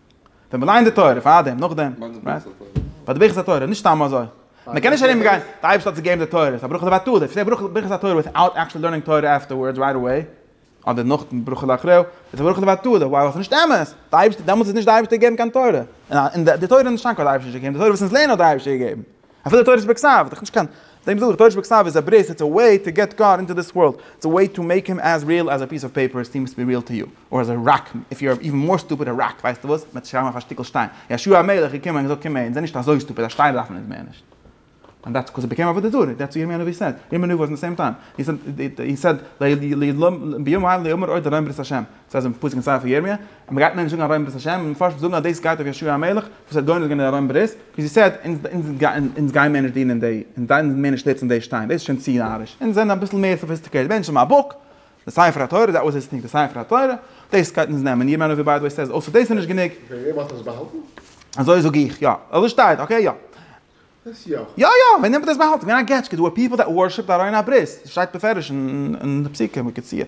ווען מען לייענט די תורה, פארדעם, נאכדעם, רייט? ביי די ברכת התורה, נישט סתם אזוי. מען קען נישט ארום גיין, די אייבערשטער האט זיך געגעבן די תורה, ס'איז א ברכה לבטלה, אויב ס'איז נישט ברכת התורה וויטאוט עקטשועלי לערנינג תורה עפטערווארדס רייט אוועי, אדער נאך דעם ברכה לאחריו, איז עס א ברכה לבטלה, ווייל עס איז נישט אמת, די אייבערשטער, דעמאלטס איז נישט די אייבערשטער געגעבן קיין תורה, און די תורה איז נישט קיין קול האט די אייבערשטער נישט געגעבן, די תורה וואס אונז לערנען האט די אייבערשטער געגעבן. אפילו תורה שבכתב, דאך נישט קיין, דעם זאג איך, תורה שבכתב איז א ברית, איטס א וועי טו געט גאד אינטו דיס ווארלד, איטס א וועי טו מעיק הים עז ריעל עז א פיס אוו פעיפער סיעמס טו בי ריעל טו יו, אר עז א ראק, איף יו אר איווען מאר סטופיד א ראק, ווייסטו וואס, מ'עט שרייבן אויף א שטיקל שטיין, ישוע המלך איז געקומען און געזאגט קום אהן, זיי נישט אזוי סטופיד, א שטיין דארף מען אונז מער נישט. ענד דעטס קאוז איט בעקעם עבודה זרה, דעטס וואט ירמיה הנביא סעד, ירמיה הנביא וואס אין די סעים טיים, הי סעד, הי סעד, ביום ה' ליאמר עוד ארום ברית השם, ס'הייסט אין פסוק אין ספר ירמיה, אז מ'גייט מער נישט זאגן ארוים'ברית'השם, און מ'פארשט וואס זאגן אז דאס גייט אויף יאשוע המלך וואס האט גונז געווען די ארוים ברית, ווי זי סעד, אונז גייען מער נישט דינען די, אונז גייען מער נישט שטיצן די שטיין, דאס איז שוין צו נאריש, אונז זענען אביסל מער סאפיסטיקעיטעד מענטשן מיין בוק, די ספר התורה, דעט וואס איז סטינקט, די ספר התורה, דאס גייט אונז נעמען, ירמי' הנביא ביי די וועי סעז אויסער דאס איז נישט גענוג. וועם האט עס באהאלטן? אזוי זאג איך, יא. אזוי שטייט, אקעי יא. דאס יא. יא יא, ווען האט עס באהאלטן? געווען א געטשקע, דא אר פיפל דעט ווארשיפ די ארויןברית', ס'שטייט בפירוש אין די פסוקים, ווי כציעט.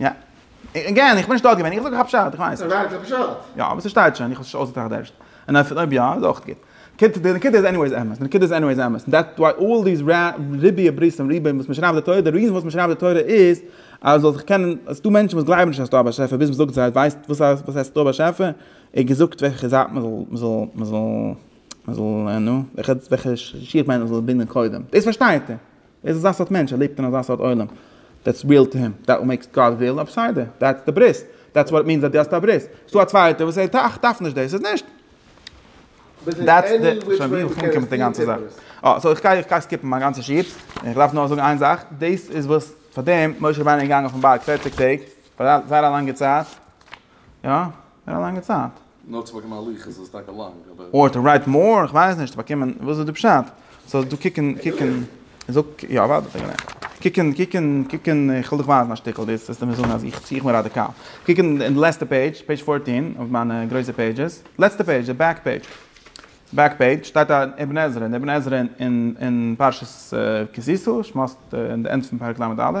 יא. עגעין, איך בין נישט דארט געווען, איך זאג א פשט, איך ווייס. ווייל ס'איז א פשט. יא, אבער ס'שטייט שוין, איך האב עס נישט אויסגעטראכט ערשט. און אויב אויב יא, איז אויך גוט. קיט, די נקודה איז עניוועיס אמת, די נקודה איז עניוועיס אמת. און דעטס וואי אלל דיס רע, ריביא ברית'ן, ריביא וואס מ'שרייבט די תורה, די ריזען וואס מ'שרייבט די תורה איז, אז זאל זיך קענען, עס איז דא מענטשן וואס גלייבן נישט אז ס'דא א באשעפער ביז מ'זאגט זיי, ווייסט וואס הייסט, וואס הייסט ס'דא א באשעפער? און געזאגט וועלכע זייט מ'זאל, מ'זאל, מ'זאל, מ'זאל, נו, וועלכע, וועלכע שיך ביינער מ'זאל בינדען קודם. דאס פארשטייט ער. ער איז אזא סארט מענטש, ער לעבט אין אזא סארט עולם, דעטס ריעל טו הים, דעט וואט מעיקס גאד ריעל, א בסדר, דעטס די ברית, דעטס וואט איט מינס אז דו האסט א ברית, עס איז דא א צווייטער וואס ער טראכט דארף נישט דאס, עס איז נישט. דעטס די, שוין ווי איך אנקום מיט די גאנצע זאך. אה, סאו איך גיי איך גיי סקיפן מיין גאנצע שיעור, איך דארף נאר זאגן איין זאך, דאס איז וואס פארדעם משה רבינו איז געגאנגען אויפן בארג פֿערציק טעג, זייער א לאנגע צייט, יא, זייער א לאנגע צייט. נאר צו באקומען א לוח איז עס טאקע לאנג אבער. אר טו רייט מאר, איך ווייס נישט צו באקומען וואס איז די פשט, סאו דא קוק און קוק און זאג ק י א ווארט א סעקונדע קוק און קוק און קוק און איך וויל דיך ווייזן א שטיקל דאס וועסטו מיר זאגן אז איך צי איך בין ראדיקאל קוק און די לעצטע פעידזש פעידזש פֿאָרטין אויף מיינע גרויסע פעידזשעס לעצטע פעידזש די בעק פעידזש בעק פעידזש שטייט א אבן עזרא און אבן עזרא און און פרשת כי תשא שמות און די ענד פון פרק ל' א'.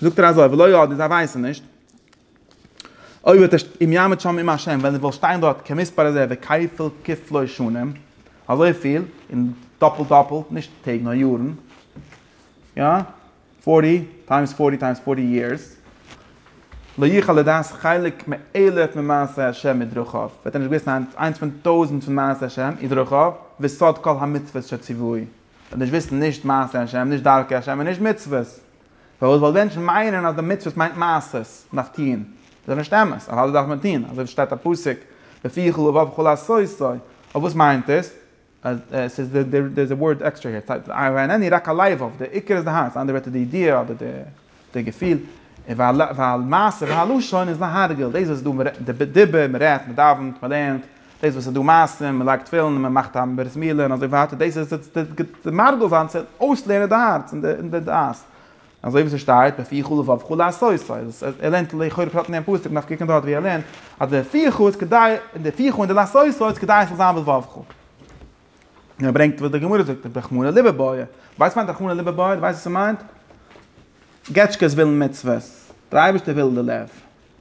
זאגט ער אזוי ולא ידעו זיי ווייסן נישט אוי וועט ער אם יעמוד שם עם ה' ווען ער וויל שטיין דארט כמספר זה וכפל כפלו שנים אזוי פיל און דאפלט דאפלט נישט טעג נאר יארן יא פארטי טיימס פארטי טיימס פארטי יערס לא יוכל לדעת חלק מאלף ממעשי ה' מדרכיו וועט ער נישט וויסן איינס פון טויזנט פון מעשי ה' און דרכיו וסוד כל המצוות שציווי וועט נישט וויסן נישט מעשי ה' נישט דרכי ה' און נישט מצוות פארוואס ווייל מענטשן מיינען אז די מצוות מיינט מעשות, מען דארף טוהן, דאס איז נישט אמת, אז אלעס דארף מען טוהן, אזוי ווי שטייט א פסוק, בפי כל לבב כל עשוי סוי, אבער וואס מיינט עס? ס'איז דער איז א ווארד עקסטרע הער, והנני רק הלבב, דער עיקר איז די הארץ, אנדערע ווערטער די ידיעה אדער די געפיל, והלמעשה והלשון איז להרגל, דאס איז דא, די דיבור, מען רעדט, מען דאווענט, מען לערנט. דאס וואס איז דא מעשים, מען לייגט תפילין און מען מאכט א ברית מילה און אזוי ווייטער, דאס איז די מרגל זיין צו אויסלערנען די הארץ און די דעת. אזוי ווי ס'שטייט, בפי חו לבב חו לעשות, סא ער לערנט לכאורה פשט אין דעם פסוק, מ'דארף קוקן דארט ווי ער לערנט, אז די בפי חו איז כדי, און די פי חו און די לעשות סא איז כדי עס זאל זיין בלבב חו. און ער ברענגט וואס די גמרא זאגט, רחמנא ליבא בעי. ווייסט וואס מיינט רחמנא ליבא בעי? דו ווייסט וואס ס'מיינט? געטשקעס ווילן מצוות, דער אייבערשטער וויל די לב.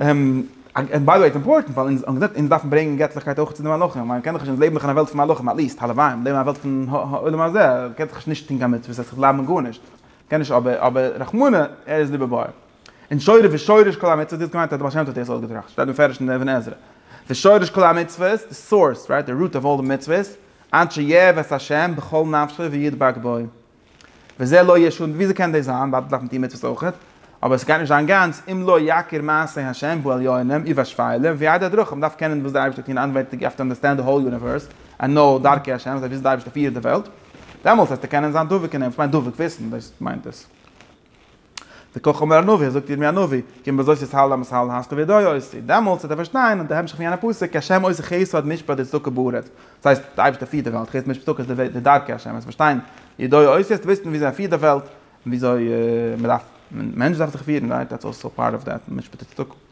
און ביי די וועי איז אימפארטענט ווייל אונז האבן געזען אונז דארפן ברענגען געטליכקייט אויך צו די מלאכים ווייל מען קען דאך נישט אונז לעבן דאך אין א וועלט פון מלאכים עטליעסט הלוואי און לעבן אין א וועלט פון העולם הזה קען דאך נישט טון קיין מצוות עס בלייבן אין גארנישט קען נישט אבער אבער רחמנא ער איז ליבער באר און שורש ושורש כל המצוות דו האסט געמיינט אז די בעל שם טוב האט דאס אויסגעטראכט שטייט מפורש אין אבן עזרא ושורש כל המצוות די סאורס די רוט אוו אלל די מצוות אנ ש יעבוד השם בכל נפשך וידבק בו. וזה לא ישון, און וויאזוי קען דאס זיין, ווייל דאס דארף מען טון מצוות אויכעט, אבער עס גייט נישט זיין גאנץ, אם לא יכיר מעשי השם ועליונים ובשפלים וידע את דרכיו, מען דארף קענען וואס דער אייבערשטער טון אנווענדיג, יו האוו טו אנדערסטענד די האול יוניווערס, ענד נאו דרכי השם, אזוי וויאזוי דער אייבערשטער פירט די וועלט, דעמאלטס וועסטו קענען זיין דבוק אין אים, וואס מיינט דבוק, וויסן, דאס מיינט עס. וכך אומר הנביא, זאגט ירמיה הנביא, כי אם בזאת יסהל עם ישראל הסתו וידעו עשו, דעמאלטס וועט ער פארשטיין אט די המשך פון יענע פסוק, כי השם עושה חסד משפט וצדקה בארץ, דאס הייסט, דער אייבערשטער פירט די וועלט, חסד משפט צדקה איז די דרכי השם, וועסט פארשטיין, ידעו עשו, וועסטו וויסן וויאזוי ער פירט די וועלט, און וויאזוי מען דארף, מענטש דארף זיך פירן, רייט, דעטס אלסא פארט אוו דעט, משפט וצדקה.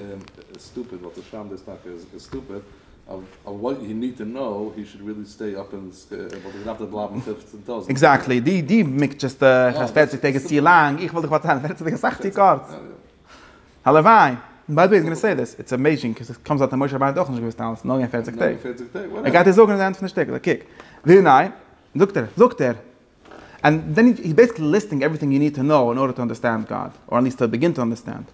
און איז סטופיד ווייל צו שרייבן דאס טאקע איז סטופיד אויף וואט יו ניד טו נאו הי שוד רעלי סטעי אפ און עס וואלט ער געדארפט דארט בלייבן פֿופֿצן טויזנט עקזעקטלי די די מקדש'סט איך אז פֿערציק טעג איז צו לאנג איך וואלט דיך באצאלט פֿערציק טעג איז אסאך צו קורץ הלוואי ביי די וועי איז גאנע סעי דיס איטס עמעיזשינג קאוז איט קאמס אוט אז משה רבינו האט אויך נישט געוואוסט אלעס נאר געווען פֿערציק טעג ער גייט דיר זאגן אין די ענד פון די שטיקל א קוק ווי ניין זאגט ער זאגט ער ענד דען הי איז בעסיקלי ליסטינג עווריטינג יו ניד טו נאו אין ארדער טו אנדערסטענד גאד, אר אט ליעסט טו ביגין טו אנדערסטענד,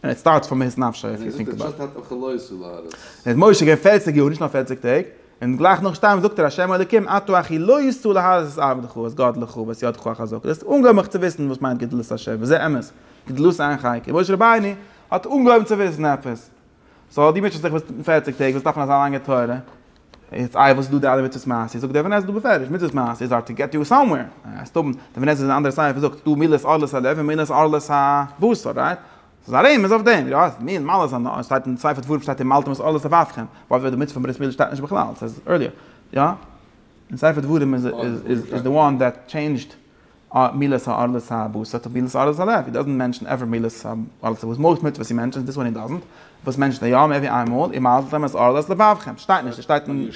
ענד איט סטארטס פון מהות נפשו איף יו טינק אבאוט איט. איז משה געווען פֿערציק יאר, נישט נאר פֿערציק טעג, און גלייך נאך שטארבן זאגט ער השם אלוקים אתה אחי לא יסור להרוס את עבדך אז גאד לך ואת ידך החזקה, דאס אנגעהויבן מיך צו וויסן וואס מיינט גדלות השם וזה אמת, גדלות איין חלקי, און משה רבינו האט אנגעהויבן צו וויסן עפעס, סאו די מענטש וואס זיך וויסט אין פֿערציק טעג וואס דארף מען אזא לאנגע תורה, יעצט איי וואס איז דא די אלע מצוות מעשה זאגט אבן עזרא בפירוש מצוות מעשה איז אר טו געט יו סאמווער הייסט האבן די אבן עזרא אין א אנדערע ספר זאגט ס'דא מילות ערלות הלב און מילות ערלות הבשר רייט? ס'איז א רמז אויף דעם יא ס'איז מין מעלות הנאה שטייט אין ספר דברים שטייט אין מלתם את ערלות אבותיכם ווייל ווען די מצוה פון ברית מילה שטייט נישט בכלל ס'איז ערליא יא? אין ספר דברים איז איז איז די וואן דעט טשעינדזשד מילת הארץ האבוס אט מילת הארץ הלב, איט דאזענט מענשן עווער מילת הארץ האבוס, מויל איז מיט וואס איר מענשנט און דיס וואן איט דאזענט, וואס מענשנט איר יא מער ווי איין מאל, איר מיידלט אמת אז ארלעס לבבכם שטייט נישט, עס שטייט אין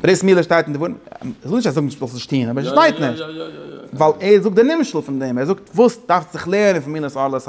ברית מילה שטייט אין די ווארן, איך זאג נישט אז זאגן נישט זאלסט נישט טוהן אבער עס שטייט נישט, ווייל ער זאגט די נמשל פון דעם, ער זאגט וואס דארפסט זיך לערנען פון מילת הארץ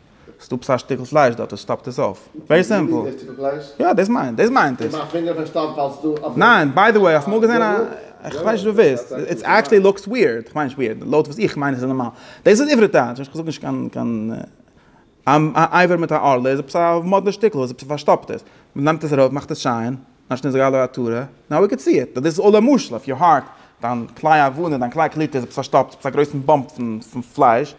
סטאפס א שטיקל פלייש דארט עס שטאפט עס אויף. ווערי סימפל. יא דאס מיינט דאס מיינט עס. ניין ביי די וועי האסט אמאל געזען א. איך מיין נישט דו וויסט. איטס עקטשעלי לוקס וויערד. איך מיין נישט וויערד. לויט וואס איך מיין איז עס נארמאל. דאס איז עברי טייטש. איך זאג נישט קיין קיין. א אייוועלט מיט א ארלער איז עפעס א מאדנע שטיקל וואס עפעס פארשטאפט עס. מען נעמט עס ארויף מאכט עס שיין. אנשטאט נישט זאגאלע א תורה. נאו ווי קען סי איט. דאס אלל א משל אויף יור הארט. דיין כלי עוונה דיין כלי קליפה איז עפעס פארשטאפט עפעס א גרויסן באמפ פון פלייש.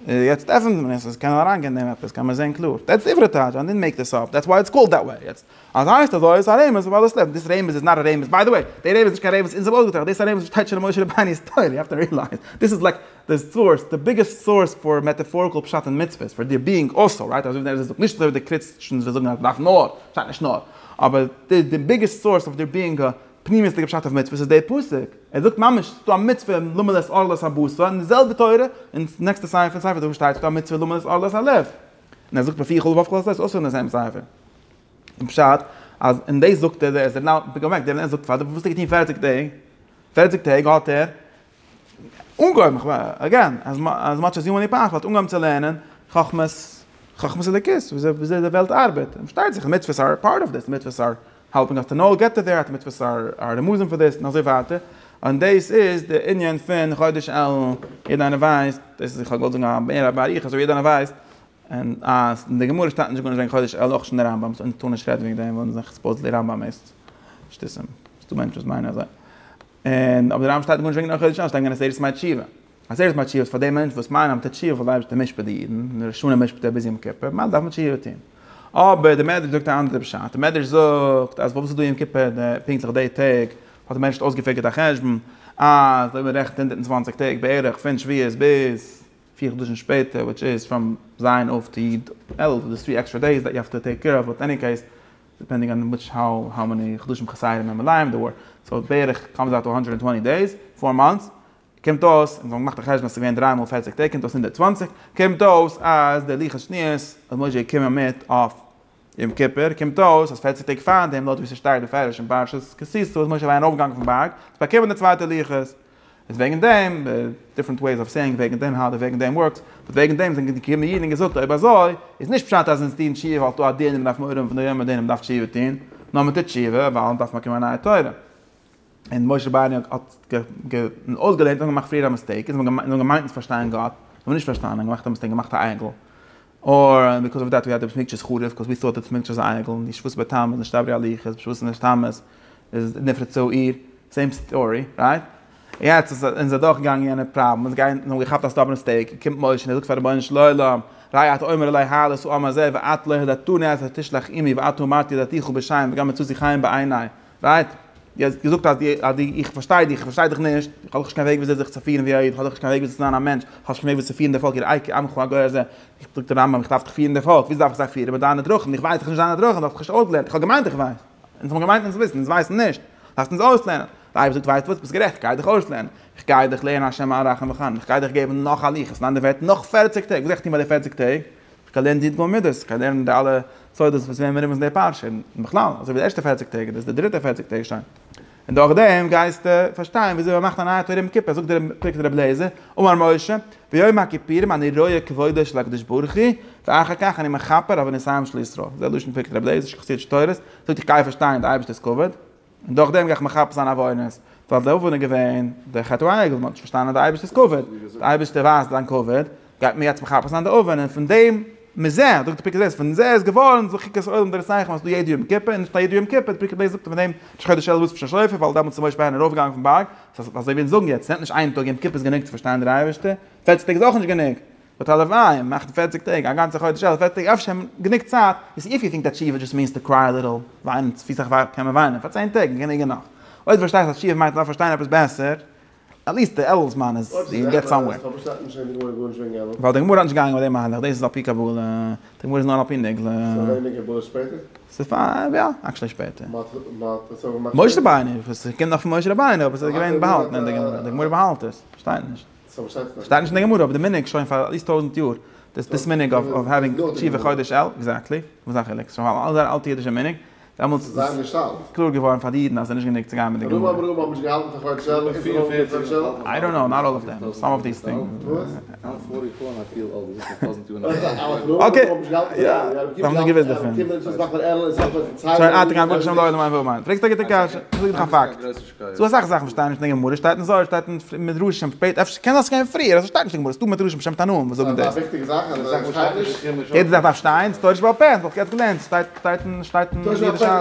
יעצט עפענט מען עס, עס קען אריין גיין דעם עפעס, קען מען זען קלאר. דעטס די עברית טייטש, איי דינט מעיק דיס אפ, דעטס וויי איטס קאלד דעט וועי. יעצט אז עס הייסט אזוי, איז עס א רמז פאר וואס עס לעבט. דיס רמז איז נאט א רמז, ביי די וועי, די רמז איז נישט קיין רמז, אונז האבן אויסגעטראכט, דאס איז א רמז וואס שטייט שוין אין משה רבינו'ס תורה, יו העוו טו רילייז, דיס איז לייק די סאורס, די ביגעסט סאורס פאר מעטעפאריקל פשט אין מצוות, פאר דיר ביאינג אלסא, רייט, אזוי ווי דער רז ע זאגט, נישט אזוי ווי די קריסטשענס וואס זאגן אז מען דארף נאר, שטייט נישט נאר, אבער די ביגעסט סאורס אויף דיר ביאינג א פנימיות'דיגע פשט אויף מצוות איז דער פסוק, ער זאגט ממש ס'איז דא א מצוה למלא את ערלות הבשר, און די זעלבע תורה אין נעקסטע סיום פון ספר דברים שטייט ס'איז דא א מצוה למלא את ערלות הלב, און ער זאגט בפי כל ובפ כל עשה עס אויס אין די זעלבע ספר, און פשט אז און דאס זאגט ער, ער איז דער נ ל, פונקט אוועק, דער נ ל זאגט פאר די וואס האט ער געטון פֿערציק טעג? פֿערציק טעג האט ער אנגעהויבן, אגעין, אז מאטש עז יו מעני פאפעל האט אנגעהויבן צו לערנען חכמת, חכמת אלוקית, וויאזוי די וועלט ארבעט, און פארשטייט זיך מצוות אר פארט אוו דיס, מצוות אר העלפינג אס טו נאו, געט טו דעט, מצוות אר א רמזים פאר דיס, און אזוי ווייטער, און דאס איז די ענין פון חודש אלול, יעדער איינער ווייסט, דאס איז איך האב געוואלט זאגן מער באריכות, אבער יעדער איינער ווייסט, און אז אין די גמרא שטייט נישט גארנישט וועגן חודש אלול אויך נישט אין די רמב ם, סאו מ'טאר נישט רעדן וועגן דעם ווייל מ'זעט סופאוזעטלי רמב ם איז שטותים, ס'איז דא מענטשן וואס מיינען אזוי. און אבער די רמב ם שטייט גארנישט וועגן חודש אלול, שטייט אין עשרת ימי תשובה. עשרת ימי תשובה איז פאר די מענטשן וואס מיינען אז מיט תשובה וועט די אייבערשטער משפט די אידן, און ראש השנה משפט ער ביז יום כיפור, ממילא דארף מען תשובה טון. אבער די מדרש זאגט א אנדערע פשט, די מדרש זאגט אז וואס איז דא יום כיפור די פונקטליך די טעג, האט די מענטשהייט אויסגעפיגערט א חשבון אז אויב מ'רעכנט הונדערט און צוואַנציק טעג בערך פון שביעית ביז, פיר חדשים שפעטער וויטש איז פראם ז' אויף טו יד אלול סאו דאס טרי עקסטרע דעיס דעט יו העוו טו טעיק קעיר אוו באט עני קעיס דיפענדינג אן וויטש האו מעני חדשים חסרים און מלאים דעיר ווער סאו בערך קאמס אוט טו הונדרעט און טווענטי דעיס פאר מאנטס קומט אויס און זיי האבן געמאכט א חשבון אז ס'איז געווען דרײַ מאל פֿערציק טעג קומט אויס הונדערט צוואַנציק קומט אויס אז די לוחות שניות האט משה געקומען מיט אויף יום כיפור קומט אויס אז פערציג טעג פארדעם לויט ווי ס'שטייט בפירוש אין פרשת כי תשא איז משה אליין ארויפגעגאנגען פון בארג צו באקומען די צווייטע לוחות איז וועגן דעם דיפרענט וועיס אוו סעיאינג וועגן דעם האו די וועגן דעם ווארקס באט וועגן דעם זענען געקומען אידן און געזאגט אויב אזוי איז נישט פשט אז אונז טוען תשובה ווייל ס'דא א דין און מ'דארף מורא האבן פון די יום אז דער אינעם דארף תשובה טון נאר מ'טוט תשובה ווייל מ'דארף באקומען א נייע תורה. און משה באניו האט אויסגעלערנט און געמאכט פריער א מיסטעיק און זיי האבן געמיינט צו פארשטיין גאט און זיי האבן נישט פארשטאנען און געמאכט א מיסטעיק געמאכט א אייגל אור און ביקאוז אוו דעט ווי האט די בית מקדש איז חרוב ביקאוז ווי טאט די בית מקדש איז א אייגל און די שבועות בתמוז איז נישט א בריאה לוהי חז בשבועות נישט תמוז איז נפרצו עיר סעים סטארי רייט יעצט איז און זיי דורך געגאנגען יענע פראבלעם און זיי גייען און האבן געכאפט א סטאבערן מיסטעיק און קומט משה און ער זאגט פאר רבונו של עולם ראי' אתה אומר אלי העלה סאו אמר זה ואת לא הודעתני אז תשלח עמי ואתו אמרתי הודעתיך בשם וגם מצאתי חן בעיני רייט? דו האסט געזאגט אז דו, אז דו, איך פארשטיי דיך, איך פארשטיי דיך נישט, איך האב דאך נישט קיין וועג וויאזוי זיך צו פירן ווי א איד, איך האב דאך נישט קיין וועג וויאזוי צו זיין א מענטש, איך האב נישט קיין וועג וויאזוי צו פירן די פאלק, יראי כי עמך הגוי הזה, זאגט דער רמב ם, איך דארף דיך פירן די פאלק, וויאזוי דארף איך זיי פירן, מיט דיינע דרכים, איך ווייס דאך נישט דיינע דרכים, דו האסט מיך נישט אויסגעלערנט, איך האב געמיינט איך ווייס, אונז האבן געמיינט אונז וויסן, אונז ווייסן נישט, דארפסט אונז אויסלערנען, רבי זאגט ווייסט וואס, ביסט גערעכט, איך גיי דיך אויסלערנען, איך גיי דיך לערנען השם הרחום וחנון, איך גיי דיך געבן נאך א ליכט, ניין דער ווערט נאך פערציג טעג, וואס גיי איך טון ביי די פערציג טעג? כ'האב געלערנט די יו ט גמ' מידות, כ'האב געלערנט די אלע סודות וואס וועמען מ'רומז אין די פרשה, און בכלל, אזוי ווי די ערשטע פֿערציק טעג, דאס איז די דריטע פֿערציק טעג שוין. און דורכדעם גייסטו פארשטיין וויאזוי מ'מאכט א נייע תורה אום כיפור, זאגט דער פרק רבי אליעזר, אמר משה, ביום הכיפורים אני רואה כבודו של הקדוש ברוך הוא, ואחר כך אני מכפר עבור נסיון של ישראל. דאס איז דער לשון פרק רבי אליעזר שחסיד שטורס, זאגט איך גיי פארשטיין די אייבערשטער'ס כבוד. און דורך דעם גיי איך מכפר זיין עוונות, ווייל די עוון איז געווען די חטא העגל, וואס מען האט נישט פארשטאנען אז די אייבערשטער איז כבוד, די אייבערשטער ווייזט זיין כבוד, גייט מען יעצט מכפר זיין די עוון, און פון דעם, מזה, זאגט די פרקי דעות, פון מזה איז געווארן זיך חוקת העולם דערצייכענען אז ס'איז דא יעדע יום כיפור, און נישט נאר יעדע יום כיפור, די פרקי דעות זאגט אז פון דעם איז חודש אלול צווישן שופר, ווייל דעמאלטס איז משה רבינו ארויף געגאנגען פון בארג, אזוי ווי אונז זאגן יעצט, ס'נעמט נישט איין טאג, יום כיפור איז גענוג צו פארשטיין דער אייבערשטער, פערציג טעג איז אויך נישט גענוג, באט הלוואי און מאכט פערציג טעג א גאנצע חודש אלף פערציג טעג אפשר גענוג צייט איז איף יו טינק דעט תשובה דזשאסט מיענס טו קריי א ליטעל וויינען צופיס איך וויי קען מען וויינען פאר צען טעג און גענוג איז נאך אויב דו פארשטייסט אז תשובה מיינט נאר פארשטיין עפעס בעסער עטליעסט די אלף זמן איז יו געט סאמווער. ווייל די גמרא איז נישט געגאנגען מיט די מהלך דאס איז על פי קבלה די גמרא איז נאר על פי נגלה. ס'פאר יא עקשעלי שפעטער. משה רבינו, ס'קומט נאך פון משה רבינו אבער ס'איז געווען באהאלטן אין די גמרא, די גמרא באהאלט עס, כ'פארשטיי נישט. שטייט נישט אין די גמרא אבער די מנהג שוין פאר עטליסט טויזענט יאר דאס מנהג אוו העווינג תשובה חודש אלול, עקזעקטלי, וואס איז א חילוק? ס'איז נאך אלס א אלטע אידישע מנהג, דעמאלטס איז קלאר געווארן פאר די אידן אז עס איז נישט גענוג צו גיין מיט די גמרא. ס'דא אסאך זאכן וואס שטייען נישט אין די גמרא, שטייט אין זוהר, שטייט אין מדרשים שפעט, אפשר קען זיין ס'געווען פריער, אזוי שטייט נישט אין די גמרא, ס'דא מדרשים שם תנאים וואס זאגן דאס. יעדע זאך דארף שטיין, ס'טאר נישט בעל פה, וואלסט געהאט געלערנט, שטייט אין אידישע.